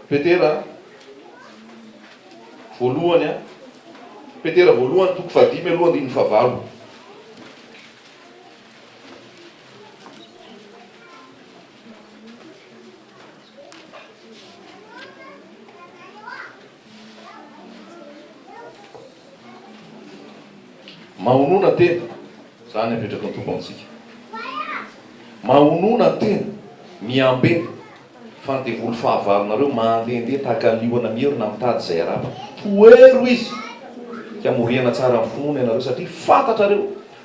Petera voalohany a. Petera voalohany toko fahadimy aloha andininy fahavalo. Mahonona tena, izany apetraky ny Tompo amintsika. Mahonona tena, miambe, fa ny devoly fahavalonareo mandehandeha tahaka ny liona mierona mitady izay harapany. Tohero izy, ka moriana tsara amin'ny finoana ianareo, satria fantatrareo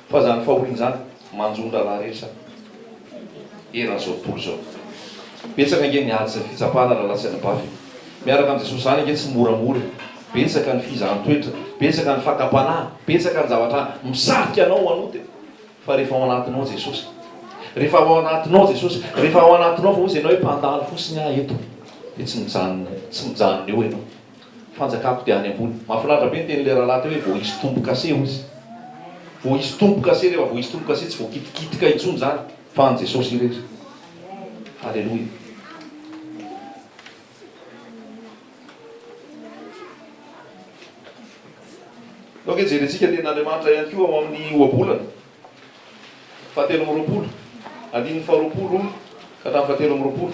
fa izany fahoriana izany, Manjon-draharaha rehetra eran'izao tontolo izao. Betsaka ange ny ady sy ny fitsapana raha latsaka bafy e! Miaraka amin'i Jesosy izany ange tsy moramora e! Betsaka ny fizahan-toetra, betsaka ny fakam-panahy, betsaka ny zavatra misarika anao hanota e! Fa rehefa ao anatinao Jesosy, rehefa ao anatinao Jesosy, rehefa ao anatinao fa hoy izy ianao hoe mpandalo fosiny aho eto dia tsy mijanona, tsy mijanona eo ianao. Fanjakako dia any ambony. Mahafinaritra be ny tenin'ilay rahalahy teo hoe voaisy tombo-kase hoy izy. Voaisy tombo-kase, rehefa voaisy tombo-kase tsy voakitikitika intsony izany fa an'i Jesosy irery. Haleloia. Ok, jerentsika ny tenin'Andriamanitra ihany koa ao amin'ny ohabolana fahatelo amby roapolo, andininy faharoapolo ka hatramin'ny fahatelo amby roapolo.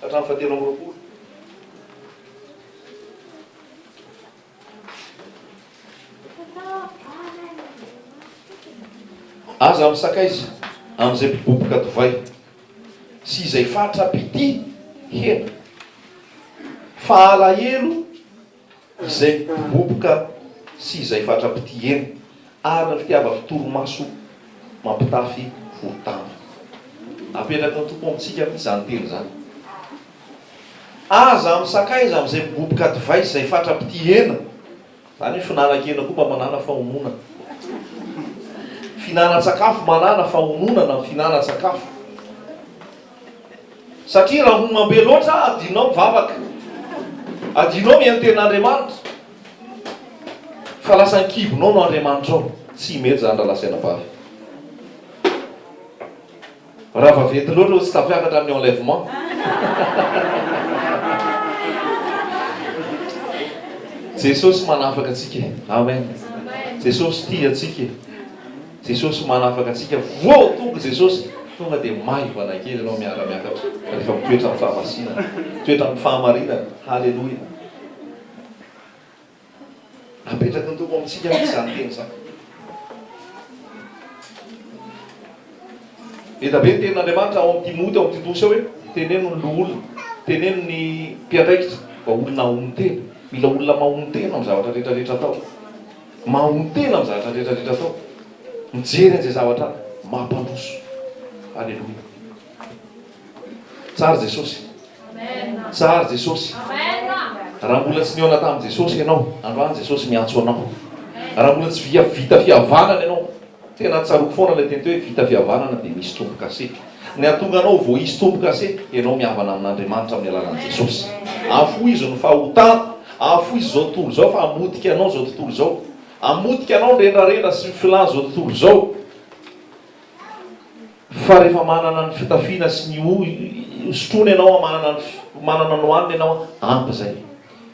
ka hatramin'ny fahatelo amby roapolo. Aza misakaiza amin'izay mpiboboka divay sy izay fatra mpitia hena, fa alahelo. izay boboka sy izay fatra-pitihena, ary ny fitiavan-torimaso mampitafy voro-damba. Apetraky ny Tompo amintsika mihitsy izany teny izany. Aza misakaiza amin'izay miboboka divay sy izay fatra-pitihena. Izany hoe fihinanan-kena koa mba manàna fahononana. Fihinanan-tsakafo manàna fahononana ny fihinanan-tsakafo. Satria raha homam be loatra, adinonao mivavaka, adinonao miantena Andriamanitra, fa lasa an-kibonao no Andriamanitrao. Tsy mety izany rahalahy sy anabavy. Raha vaventy loatra hoy tsy tafiakatra amin'ny enlèvement. Jesosy manafaka antsika e. Amen. Jesosy tia antsika e. Jesosy manafaka antsika vao tonga Jesosy tonga dia maivana kely ianao miara miakatra rehefa mitoetra amin'ny fahamasinana mitoetra amin'ny fahamarinana haleloia apetraky ny tompo amintsika aky izany teny izany eda be ny tenin'Andriamanitra ao amin'ny Timoty ao amin'ny Titosy ao hoe teneno ny loholona teneno ny mpiandraikitra mba olona mahomby tena mila olona mahomby tena amin'ny zavatra rehetra rehetra atao Mamono-tena amin'ny zavatra rehetra rehetra atao. Mijery an'izay zavatra mampandroso. Aleloia. Tsara Jesosy. Tsara Jesosy. Raha mbola tsy nihaona tamin'i Jesosy ianao, androany Jesosy miantso anao. Raha mbola tsy vita fihavanana ianao, Tena tsaroako foana ilay teny teo hoe vita fihavanana dia misy tombokase. Ny hahatonga anao vao hisy tombokase dia ianao mihavana amin'Andriamanitra amin'ny alalan'i Jesosy. Afohizo ny fahotana, afohizo izao tontolo izao fa hamotika anao izao tontolo izao. Hamotika anao ny rendrarendra sy ny filàn'izao tontolo izao. Fa rehefa manana ny fitafiana sy ny hosotroana ianao, manana ny manana ny hohanina ianao, ampy izay.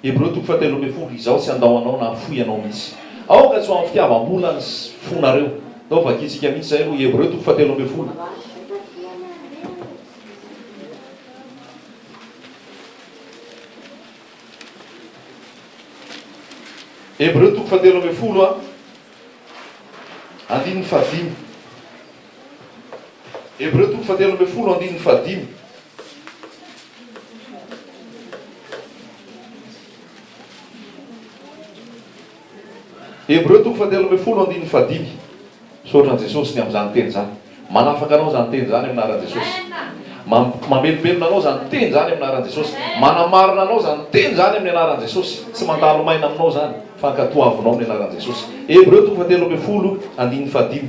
Hebreo toko fahatelo ambin'ny folo, Izaho tsy handao anao na hafoy anao mihitsy. Aoka tsy ho amin'ny fitiavam-bolan'ny fonareo. Atao vakintsika mihitsy izay aloha, Hebreo toko fahatelo ambin'ny folo. Hebreo toko fahatelo ambin'ny folo, andininy fahadimy. Hebreo toko fahatelo ambin'ny folo andininy fahadimy. Hebreo toko fahatelo ambin'ny folo andininy fahadimy. Misaotra an'i Jesosy ny amin'izany teny izany. Manafaka anao izany teny izany amin'ny anaran'i Jesosy. Mam- mamelombelona anao izany teny izany amin'ny anaran'i Jesosy. Manamarina anao izany teny izany amin'ny anaran'i Jesosy. Tsy mandalo maina aminao izany fa ankatoavinao amin'ny anaran'i Jesosy. Hebreo toko fahatelo ambin'ny folo andininy fahadimy.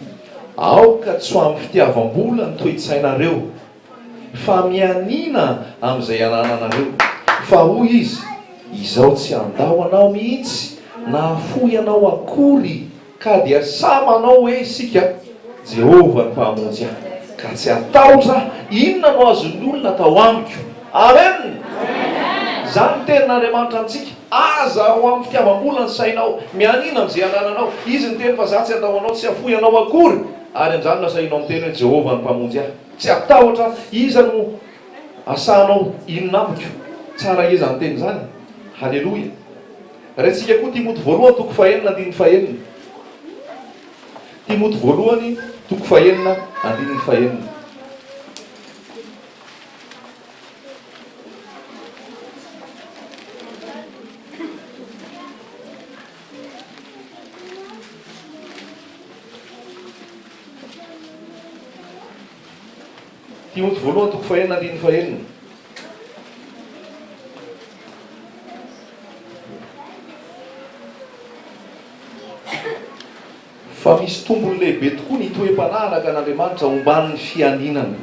Aoka tsy ho amin'ny fitiavam-bola ny toe-tsainareo, fa mianiana amin'izay anananareo. Fa hoy izy, Izaho tsy handao anao mihitsy, na hafoy anao akory, ka dia sahy manao hoe isika, Jehovah no mpamonjy ahy, ka tsy hatahotra inona no azon'ny olona atao amiko. Amen! Izany ny tenin'Andriamanitra amintsika. Aza ao amin'ny fitiavam-bola ny sainao, mianiana amin'izay anananao. Izy niteny fa, Izaho tsy handao anao, tsy hafoy anao akory. Ary amin'izany lasa ianao miteny hoe, Jehovah no Mpamonjy ahy. Tsy hatahotra aho. Iza no asahanao hinona amiko? Tsara ehe izany teny izany e! Haleloia! Raintsika koa Timoty voalohany toko fahenina andininy fahenina. Timoty voalohany toko fahenina andininy fahenina. Timoty voalohany toko fahenina andininy fahenina. Fa misy tombony lehibe tokoa ny toe-panahy araka an' Andriamanitra hombany ny fianinana.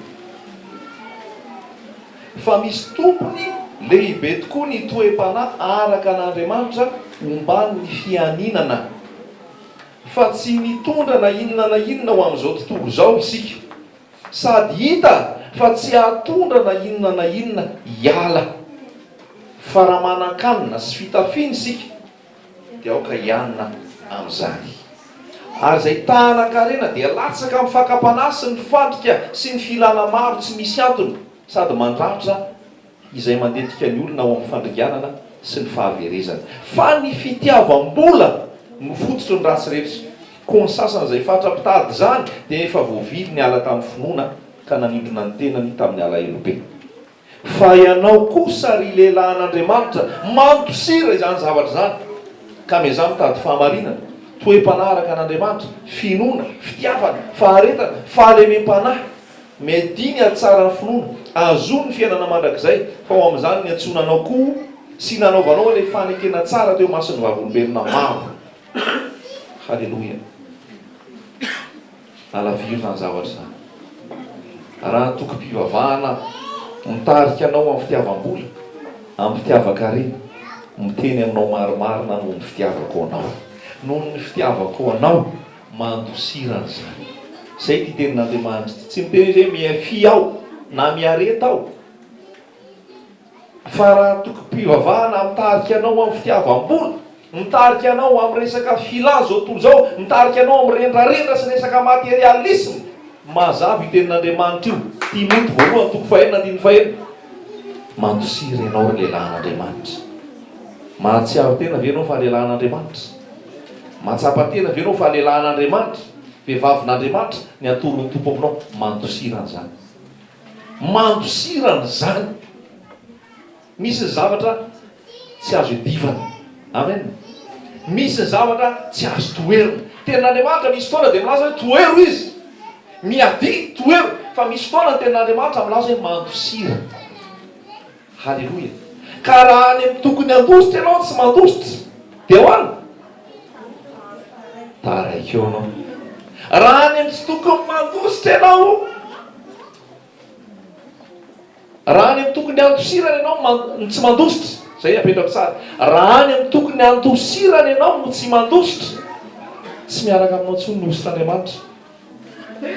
Fa misy tombony lehibe tokoa ny toe-panahy araka an' Andriamanitra hombany ny fianinana. Fa tsy mitondra na inona na inona ho amin' izao tontolo izao isika, sady hita fa tsy hahatondra na inona na inona hiala. Fa raha manan-kanina sy fitafiana isika, Dia aoka hianina amin'izany. Ary izay tahanan-karena dia latsaka amin'ny fakam-panahy sy ny fandrika sy ny filana maro tsy misy antony sady mandratra izay mandetika ny olona ao amin'ny fandringanana sy ny fahaverezana. Fa ny fitiavam-bola no fototry ny ratsy rehetra. Koa ny sasany izay fatra mpitady izany dia efa voavily niala tamin'ny finoana ka nanimbina ny tenany tamin'ny alahelobe. Fa ianao kosa, ry lehilahin'Andriamanitra, mandosira izany zavatra izany, ka miezaha mitady fahamarinana, toe-panahy araka an'Andriamanitra, finoana, fitiavana, faharetana, fahalemem-panahy. Miadihy ny hatsaran'ny finoana, ahazoany ny fiainana mandrakizay, fa ho amin'izany niantsoana anao koa sy nanaovanao ilay fanekena tsara teo imason'ny vavolombelona maro. Haleloia. Alaviro izany zavatra izany. Raha antokom-pivavahana mitarika anao amin'ny fitiavam-bola, amin'ny fitiavan-karena, miteny aminao marimarina noho ny fitiavako anao. Noho ny fitiavako anao, mandosirana izany. Izay ity tenin'Andriamanitra ity. Tsy miteny izy hoe mihafia aho na miareta aho. Fa raha antokom-pivavahana mitarika anao amin'ny fitiavam-bola, mitarika anao amin'ny resaka filà izao tontolo izao, mitarika anao amin'ny rendrarendra sy resaka materialisme, mazava io tenin'Andriamanitra io, Timoty voalohany toko fahenina andininy fahenina, Mampitsiry ianao ry lehilahy an'Andriamanitra. Mahatsiaro tena ve ianao fa lehilahy an'Andriamanitra? Mahatsapa tena ve ianao fa lehilahy an'Andriamanitra, vehivavin'Andriamanitra, ny antoron'ny Tompo aminao? Mampitsiry an'izany. Mandosirana izany. Misy ny zavatra tsy azo iadivana. Amen. Misy ny zavatra tsy azo toherina. Tenin'Andriamanitra misy fotoana dia milaza hoe tohero izy. Miadia, tohero. Fa misy fotoana ny tenin'Andriamanitra milaza hoe mandosirana. Haleloia! Ka raha any amin'ny tokony handositra ianao tsy mandositra dia ahoana? Taraiky eo ianao. Raha any amin'ny tsy tokony mandositra ianao, raha any amin'ny tokony handosirana ianao man- no tsy mandositra, izay apetrako tsara, raha any amin'ny tokony handosirana ianao no tsy mandositra, tsy miaraka aminao intsony ny hosotr'Andriamanitra.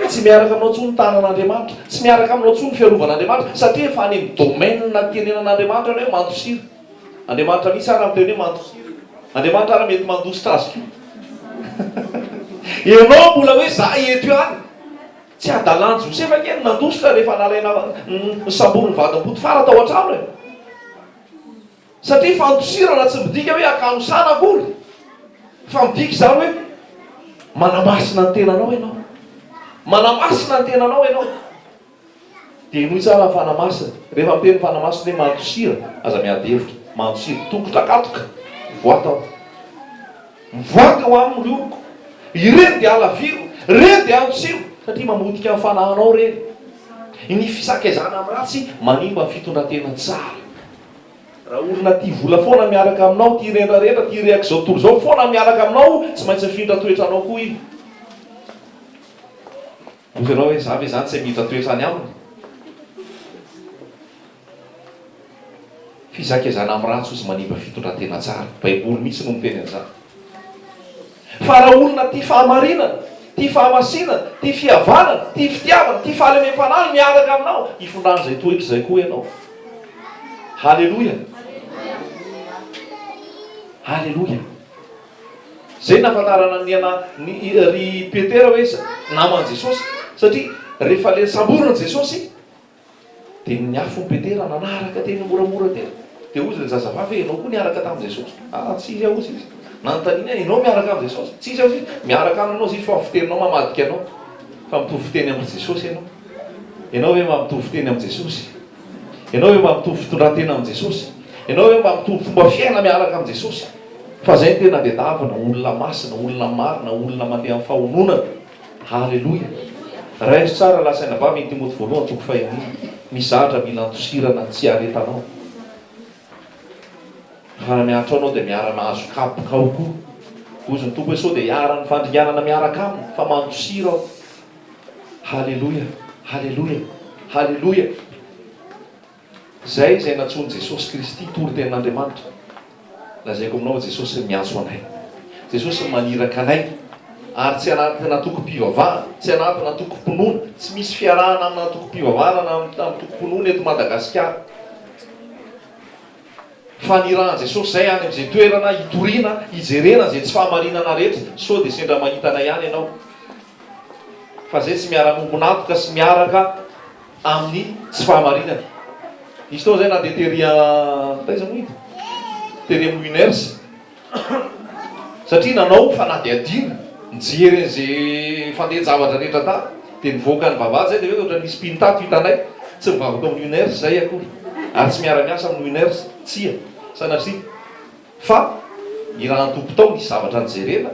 Tsy miaraka aminao intsony ny tanan'Andriamanitra, tsy miaraka aminao intsony ny fiarovan'Andriamanitra, satria efa any amin'ny domaine itenenan'Andriamanitra ianao hoe mandosira. Andriamanitra mihitsy ary miteny hoe mandosira. Andriamanitra ary mety mandositra azy koa. Ianao mbola hoe za eto ihany. Tsy hadalan'i Josefa ange ny nandositra rehefa nalaina, nosamborin'ny vadin'i Potifara tao an-trano e. Satria fandosirana tsy midika hoe akanosana akory, fa midika izany hoe manamasina ny tenanao ianao. Manamasina ny tenanao ianao. Dia henoy tsara ny fanamasina. Rehefa miteny ny fanamasina hoe mandosira, aza miady hevitra. Mandosira. Tongotra katoka. Mivoaka aho. Mivoaka aho aminy ry oloko. Ireny dia halaviro. Ireny dia handosiro. Satria mamotika ny fanahinao ireny. Ny fisakezana amin'ny ratsy manimba fitondran-tena tsara. Raha olona tia vola foana miaraka aminao, tia rendrarendra, tia rehaky izao tontolo izao foana ny miaraka aminao, tsy maintsy mifindra toetra anao koa izy. Hoy ianao hoe, za ve izany tsy hamindra toetra any aminy? Fizakezana amin'ny ratsy hozy manimba fitondran-tena tsara. Baiboly mihitsy no miteny an'izany. Fa raha olona tia fahamarinana, tia fahamasinana, tia fihavanana, tia fitiavana, tia fahalemem-panahy no miaraka aminao, hifindran'izay toetra izay koa ianao. Haleloia! Haleloia! Izay nahafantarana ny ana, ny ry Petera hoe naman'i Jesosy, satria rehefa le samborin'i Jesosy, Dia ny afon'i Petera nanaraka teny moramora teny. Dia hozy ilay zazavavy hoe, Ianao koa niaraka tamin'i Jesosy? Ah, tsia izy aho, hozy izy. Nanontaniany aho, Ianao miaraka amin'i Jesosy? Tsia izy aho, hozy izy. Miaraka aminao, hozy izy, fa ny fiteninao mamadika anao. Fa mitovy fiteny amin-dry Jesosy ianao. Ianao ve mba mitovy fiteny amin'i Jesosy? Ianao ve mba mitovy fitondran-tena amin'i Jesosy? Ianao ve mba mitovy fomba fiaina miaraka amin'i Jesosy? Fa izay no tena diadavana, olona masina, olona marina, olona mandeha amin'ny fahononana. Haleloia! Raindro tsara raha lazaina vavy eny Timoty voalohany toko faha enina, mizatra mila andosirana ny tsy iaretanao. Raha miantra anao dia miara mahazo kapoka ao koa. Hozy ny Tompo hoe sao dia iharan'ny fandringanana miaraka aminy fa mandosira aho. Haleloia! Haleloia! Haleloia! Izay izay nantsoin'i Jesosy Kristy toritenin'Andriamanitra. Lazaiko aminao i Jesosy miantso anay. Jesosy maniraka anay. Ary tsy anatin'ny antokom-pivavahana, tsy anatin'ny antokom-pinoana, tsy misy fiarahana amin'ny antokom-pivavahana na amin'ny antokom-pinoana eto Madagasikara. Fa nirahan'i Jesosy izay any amin'izay toerana hitoriana, hijerena izay tsy fahamarinana rehetra, sao dia sendra mahita anay ihany ianao. Fa izay tsy miara-miombon'antoka sy miaraka. amin'ny tsy fahamarinana. Hisy fotoana izay na dia tery an, taiza moa ito? Tery amin'ny Winners satria nanao fanadihadiana, nijery an'izay fandehan-javatra rehetra tany, dia nivoaka ny vavahady izay dia hoe ohatran'ny misy mpino tato hitanay, tsy mivavaka amin'ny Winners izahay akory ary tsy miara-miasa amin'ny Winners, tsia, sanatria fa irahan-tompotao misy zavatra nojerena,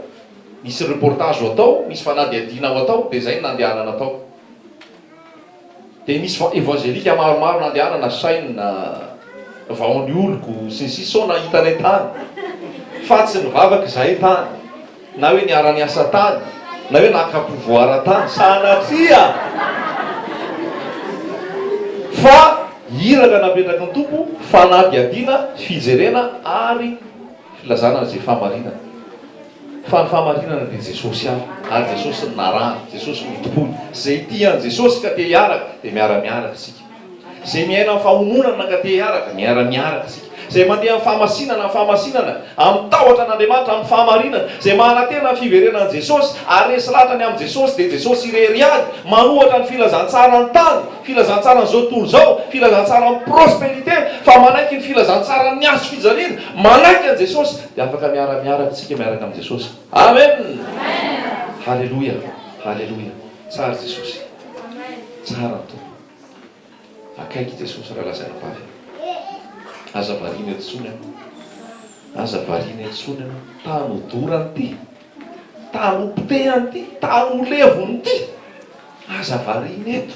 misy reportage ho atao, misy fanadihadiana ho atao, dia izay no nandehanana tao. Dia nisy evangelika maromaro nandehanana nasaina vao ny oloko sy ny sisa sao nahita anay tany fa tsy nivavaka izahay tany na hoe niara niasa tany na hoe naka pouvoir tany sanatria fa iraka napetraky ny Tompo fanadihadiana fijerena ary filazana izay fahamarinana Fa ny fahamarinana dia Jesosy ihany, ary Jesosy no narahana, Jesosy no itompony. Izay tia an'i Jesosy ka te hiaraka, dia miara-miaraka isika. Izay miaina amin'ny fahononana ka te hiaraka, miara-miaraka isika. Izay mandeha amin'ny fahamasinana, amin'ny fahamasinana, amin'ny tahotra an'Andriamanitra, amin'ny fahamarinana, izay manantena ny fiverenan'i Jesosy, ary resy lahatra ny amin'i Jesosy, dia Jesosy irery ihany, manohatra ny filazantsaran'ny tany, filazantsaran'izao tontolo izao, filazantsaran'ny prosperité, fa manaiky ny filazantsaran'ny hazofijaliana, manaiky an'i Jesosy, Dia afaka miara miara avy isika miaraka amin'i Jesosy. Amen! Haleloia! Haleloia! Tsara Jesosy! Tsara ny Tompo! Akaiky i Jesosy raha lazaina am-bava iny. Aza variana eto intsony an! Aza variana eto intsony an! Tany ho dorany ity! Tany ho potehany ity! Tany ho levony ity! Aza variana eto!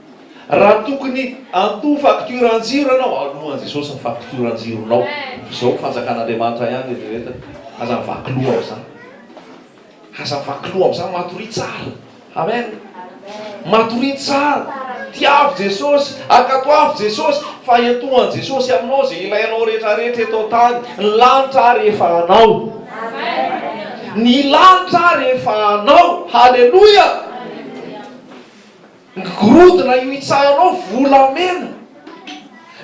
Raha tokony handoa facture an-jiro ianao, aloan'i Jesosy ny facture an-jironao. Izao fanjakan'Andriamanitra ihany ry reto e! Aza mivaky loha amin'izany. Aza mivaky loha amin'izany, matoria tsara. Amen. Matoria tsara. Tiavo Jesosy, ankatoavo Jesosy, fa ento an'i Jesosy aminao izay ilainao rehetrarehetra eto an-tany. Ny lanitra ary efa anao. Ny lanitra ary efa anao. Haleloia! Ngorodona io itsahanao volamena.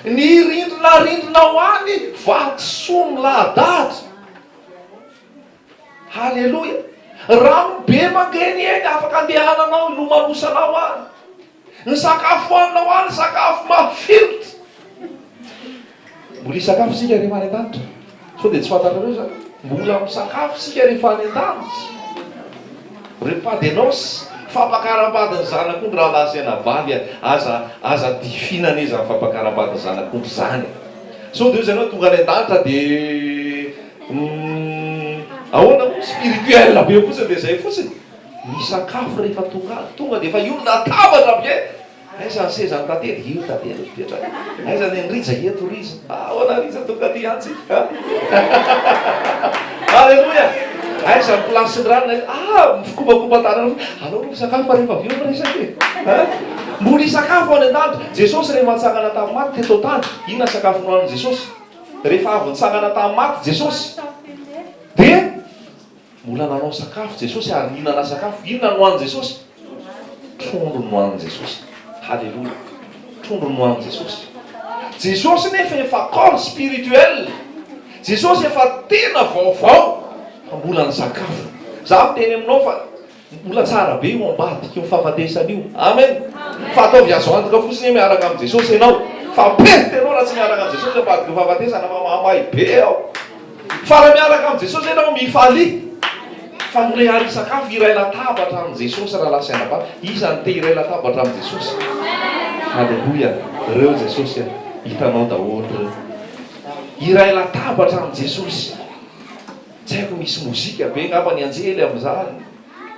Ny rindrina rindrinao any vatosoa milahadahatra. Haleloia. Rano be mangeny eny afaka andehananao hilomanosanao any. Ny sakafo hoaninao any sakafo mafilotra. Mbola hisakafo isika rehefa any an-danitra. Sao dia tsy fantatrareo izany? Mbola misakafo isika rehefa any an-danitra. Re Padenos, fampakaram-bady ny zanak'ondry rahalahy sy anabavy e! Aza, aza difina anie izany fampakaram-bady ny zanak'ondry izany e! Sao dia hoy ianao tonga any an-danitra dia uhm ahoana moa? Spirituel be fotsiny dia izay fotsiny? Misakafo rehefa tonga any. Tonga dia efa io ny latabatra bien! Aiza ny sezan'i Tately? Io Tately no mipetraka. Aiza ny an'i Rija? Eto Rija. Ahoana Rija tonga aty hiantsika? Aleloia! Aiza ny place ny rano? Ah, mifokopakopa tanana. Alao aloha misakafo fa rehefa avy eo miresaka e. Mbola hisakafo any an-danitra. Jesosy rehefa nitsangana tamin'ny maty teto an-tany, inona ny sakafo nohanin'i Jesosy? Rehefa avy nitsangana tamin'ny maty Jesosy, dia Mbola nanao sakafo Jesosy ary nihinana sakafo. Inona no hohanin'i Jesosy? Trondro no hohanin'i Jesosy. Haleloia. Trondro no hohanin'i Jesosy. Jesosy nefa efa corps spirituel. Jesosy efa tena vaovao fa mbola ny sakafo. Za miteny aminao fa Mbola tsara be io ambadika io fahafatesana io amen fa ataovy azo antoka fotsiny hoe miaraka amin'i Jesosy ianao fa perte ianao raha tsy miaraka amin'i Jesosy ambadika io fahafatesana fa mahamay be ao fa raha miaraka amin'i Jesosy ianao mifalia fa mirehary hisakafo hiray latabatra amin'i Jesosy raha lahy sy anabavy iza no te hiray latabatra amin'i Jesosy aleloia reo Jesosy a hitanao daholo reo hiray latabatra amin'i Jesosy Tsy haiko misy mozika be ngamba ny anjely amin'izany.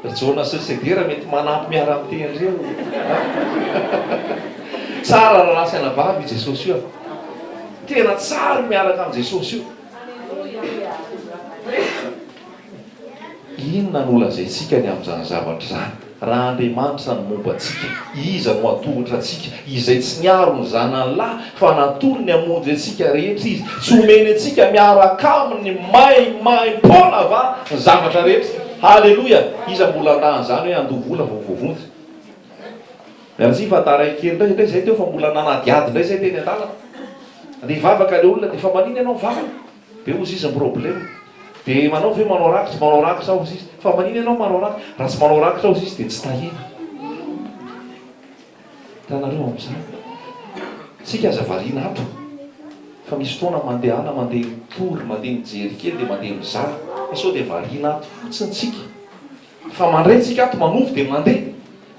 Ry Jona sy ry Sedera mety manampy miara-miteny reo an. Tsara rahalahy sy anabavy io Jesosy io an. Tena tsara io miaraka amin'i Jesosy io. Inona no holazaintsika ny amin'izany zavatra izany? Raha Andriamanitra no momba antsika, iza no hatohitra antsika? Izay tsy niaro ny zanany lahy, fa natory ny hamonjy antsika rehetra Izy, tsy homeny antsika miaraka Aminy maimaimpoana va ny zavatra rehetra? Haleloia! Iza mbola handà an'izany hoe handoa vola vao voavonjy? Merci fa taraiky kely indray indray izay teo fa mbola nanadihady indray izay teny an-dalana. Andeha hivavaka ilay olona dia fa manina ianao mivavaka? Dia hoy Ziz ny problème, dia manao ve manao rakitra, manao rakitra aho, Ziz, fa manina ianao manao rakitra, raha tsy manao rakitra aho Ziz dia tsy tahiana, hitanareo amin'izany, tsika aza variana ato, fa misy fotoana mandehana mandeha mitory, mandeha mijery kely dia mandeha mizara, fa sao dia variana ato fotsiny tsika. Fa mandray tsika ato manovo de mandeha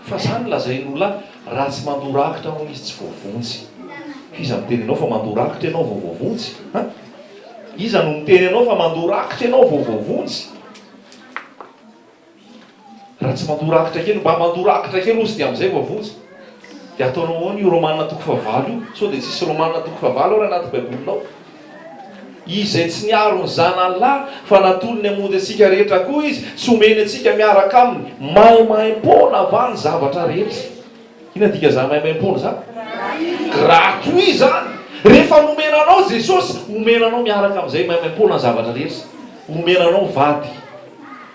fa zany lazain ola raha tsy mandoa rakitra anao izy tsy voavonjy f'iza miteny anao fa mandoa rakitra ianao vao voavonjy an? Iza no miteny anao fa mandoa rakitra ianao vao voavonjy? Raha tsy mandoa rakitra kely mba mandoa rakitra kely ozy de amzay voavonjy de ataonao ahoana io romana toko fahavalo io sao de tsisy romana toko fahavalo ary anaty baibolinao? Izy izay tsy niaro ny Zanany lahy fa natolony hamonjy antsika rehetra koa Izy sy homeny antsika miaraka Aminy maimaimpoana va ny zavatra rehetra? Inona ny dikan'izany maimaimpoana izany? Gratuit izany! Rehefa nomena anao Jesosy, homena anao miaraka amin'izay maimaimpoana ny zavatra rehetra. Homena anao vady.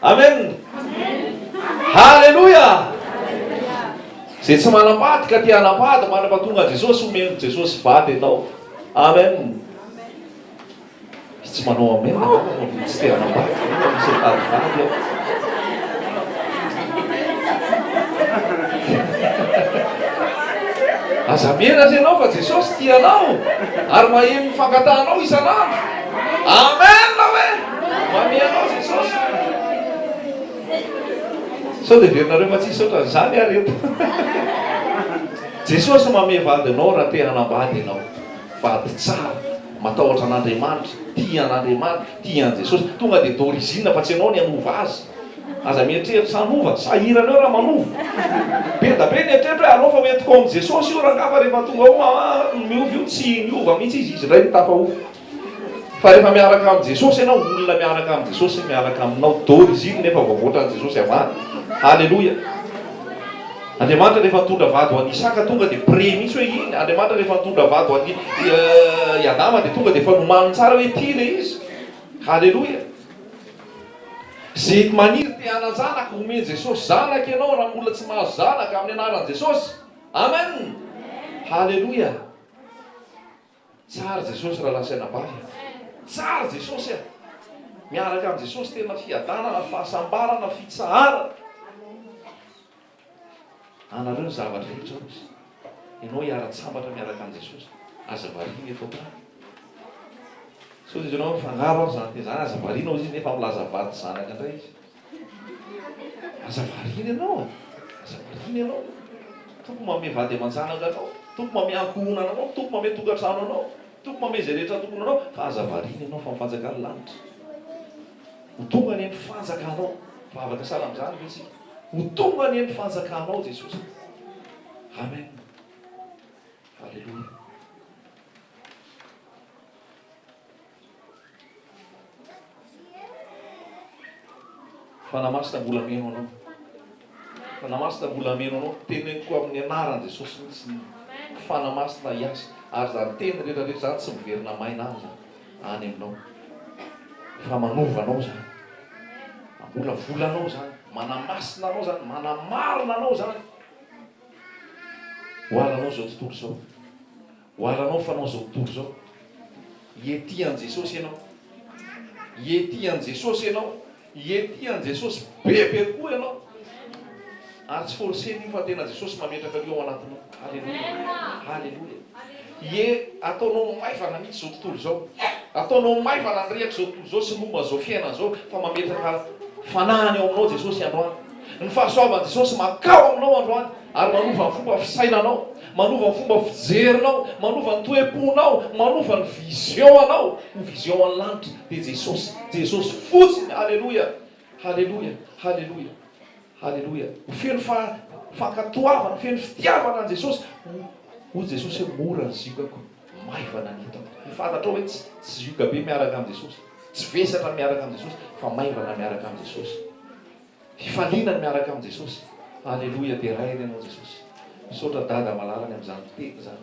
Amen! Haleloia! Izay tsy manam-pady ka te hanam-pady, manam-pahatonga Jesosy, homeny Jesosy vady ianao. Amen. Tsy manao amen na tsy te hanambady tsy mitady vady aho. Aza miera aza ianao fa Jesosy tia anao ary maheno ny fangatahanao isan'andro. Amen hoe. Mami anao Jesosy. Sao dia verinareo fa tsy hisaotra an'izany ary eto. Jesosy mamehy vadinao raha te hanambady ianao. Vady tsara, matahotra an'Andriamanitra, tia an'Andriamanitra, tia an'i Jesosy. Tonga dia d'origine fa tsy ianao ny hanova azy. Aza mieritreritra hanova, sahirana eo raha manova. Be da be ny eritreritro hoe aleo fa hoentiko ao amin'i Jesosy io rangaha fa rehefa tonga ao ma miova io, tsy niova mihitsy izy, izy indray no tafahofo. Fa rehefa miaraka amin'i Jesosy ianao, olona miaraka amin'i Jesosy miaraka aminao, d'origine efa voavoatra an'i Jesosy avany. Haleloia. Andriamanitra rehefa nitondra vady ho an'i Isaka tonga dia pré mihitsy hoe iny, Andriamanitra rehefa nitondra vady ho an'i i Adama dia tonga dia efa nomaniny tsara hoe ity ilay izy. Haleloia. Ze maniry te hanan-janaka omen'i Jesosy zanaka ianao raha mbola tsy mahazo zanaka amin'ny anaran'i Jesosy. Amen. Haleloia. Tsara Jesosy raha lasa anabavy a! Tsara Jesosy a! Miaraka amin'i Jesosy tena fiadanana, fahasambarana, fitsaharana. Anareo ny zavatra rehetra hozy. Ianao hiara-tsambatra miaraka amin'i Jesosy. Aza variana eto an-tany. Sao dia ianao mifangaro ary izany dia izany. Aza variana hozy Izy nefa milaza vady sy zanaka indray Izy. Aza variana ianao e! Aza variana ianao! Tompo manome vady aman-janaka anao, Tompo manome ankohonana anao, Tompo manome tokantrano anao, Tompo manome izay rehetra tokony ho anao, fa aza variana ianao fa ny fanjakan'ny lanitra Ho tonga anie ny fanjakanao, vavaka sahala amin'izany ve isika? Ho tonga anie ny fanjakanao Jesosy a! Amen! Aleloia! Fanahy Masina mbola hameno anao. Fanahy Masina mbola hameno anao. Teneniko amin'ny anaran'i Jesosy mihitsy ny Fanahy Masina hiasa. Ary izany teny rehetra rehetra izany tsy miverina maina any izany. Any aminao. Fa manova anao izany. Mamolavola anao izany. Manamasina anao izany. Manamarina anao izany. Ho alanao izao tontolo izao. Oharanao fanao zao tontolo zao. Ie tia an'i Jesosy ianao? Ie tia an'i Jesosy ianao? Ie tia an'i Jesosy be be kokoa ianao? Ary tsy forcena io fa tena Jesosy mametraka an'io ao anatinao. Haleloia. Haleloia. Ie ataonao maivana mihitsy zao tontolo zao. Ataonao maivana ny rehaka zao tontolo zao sy ny momba zao fiainana zao fa mametraka fanahiny ao aminao Jesosy androany. Ny fahasoavan'i Jesosy mankao aminao androany. Ary manova ny fomba fisainanao, manova ny fomba fijerinao, manova ny toe-ponao, manova ny vision anao ho vision an'ny lanitra dia Jesosy, Jesosy fotsiny, Aleloia, Aleloia, Aleloia, Aleloia, ho feno fankatoavana, feno fitiavana an'i Jesosy, hoy Jesosy hoe mora ny ziogako, maivana ny entako, ho fantatrao hoe tsy tsy zioga be miaraka amin'i Jesosy, tsy vesatra miaraka amin'i Jesosy fa maivana miaraka amin'i Jesosy. Hifaliana ny miaraka amin'i Jesosy. Aleloia deraina ianao Jesosy. Misaotra Dada Malala ny amin'izany fiteny izany.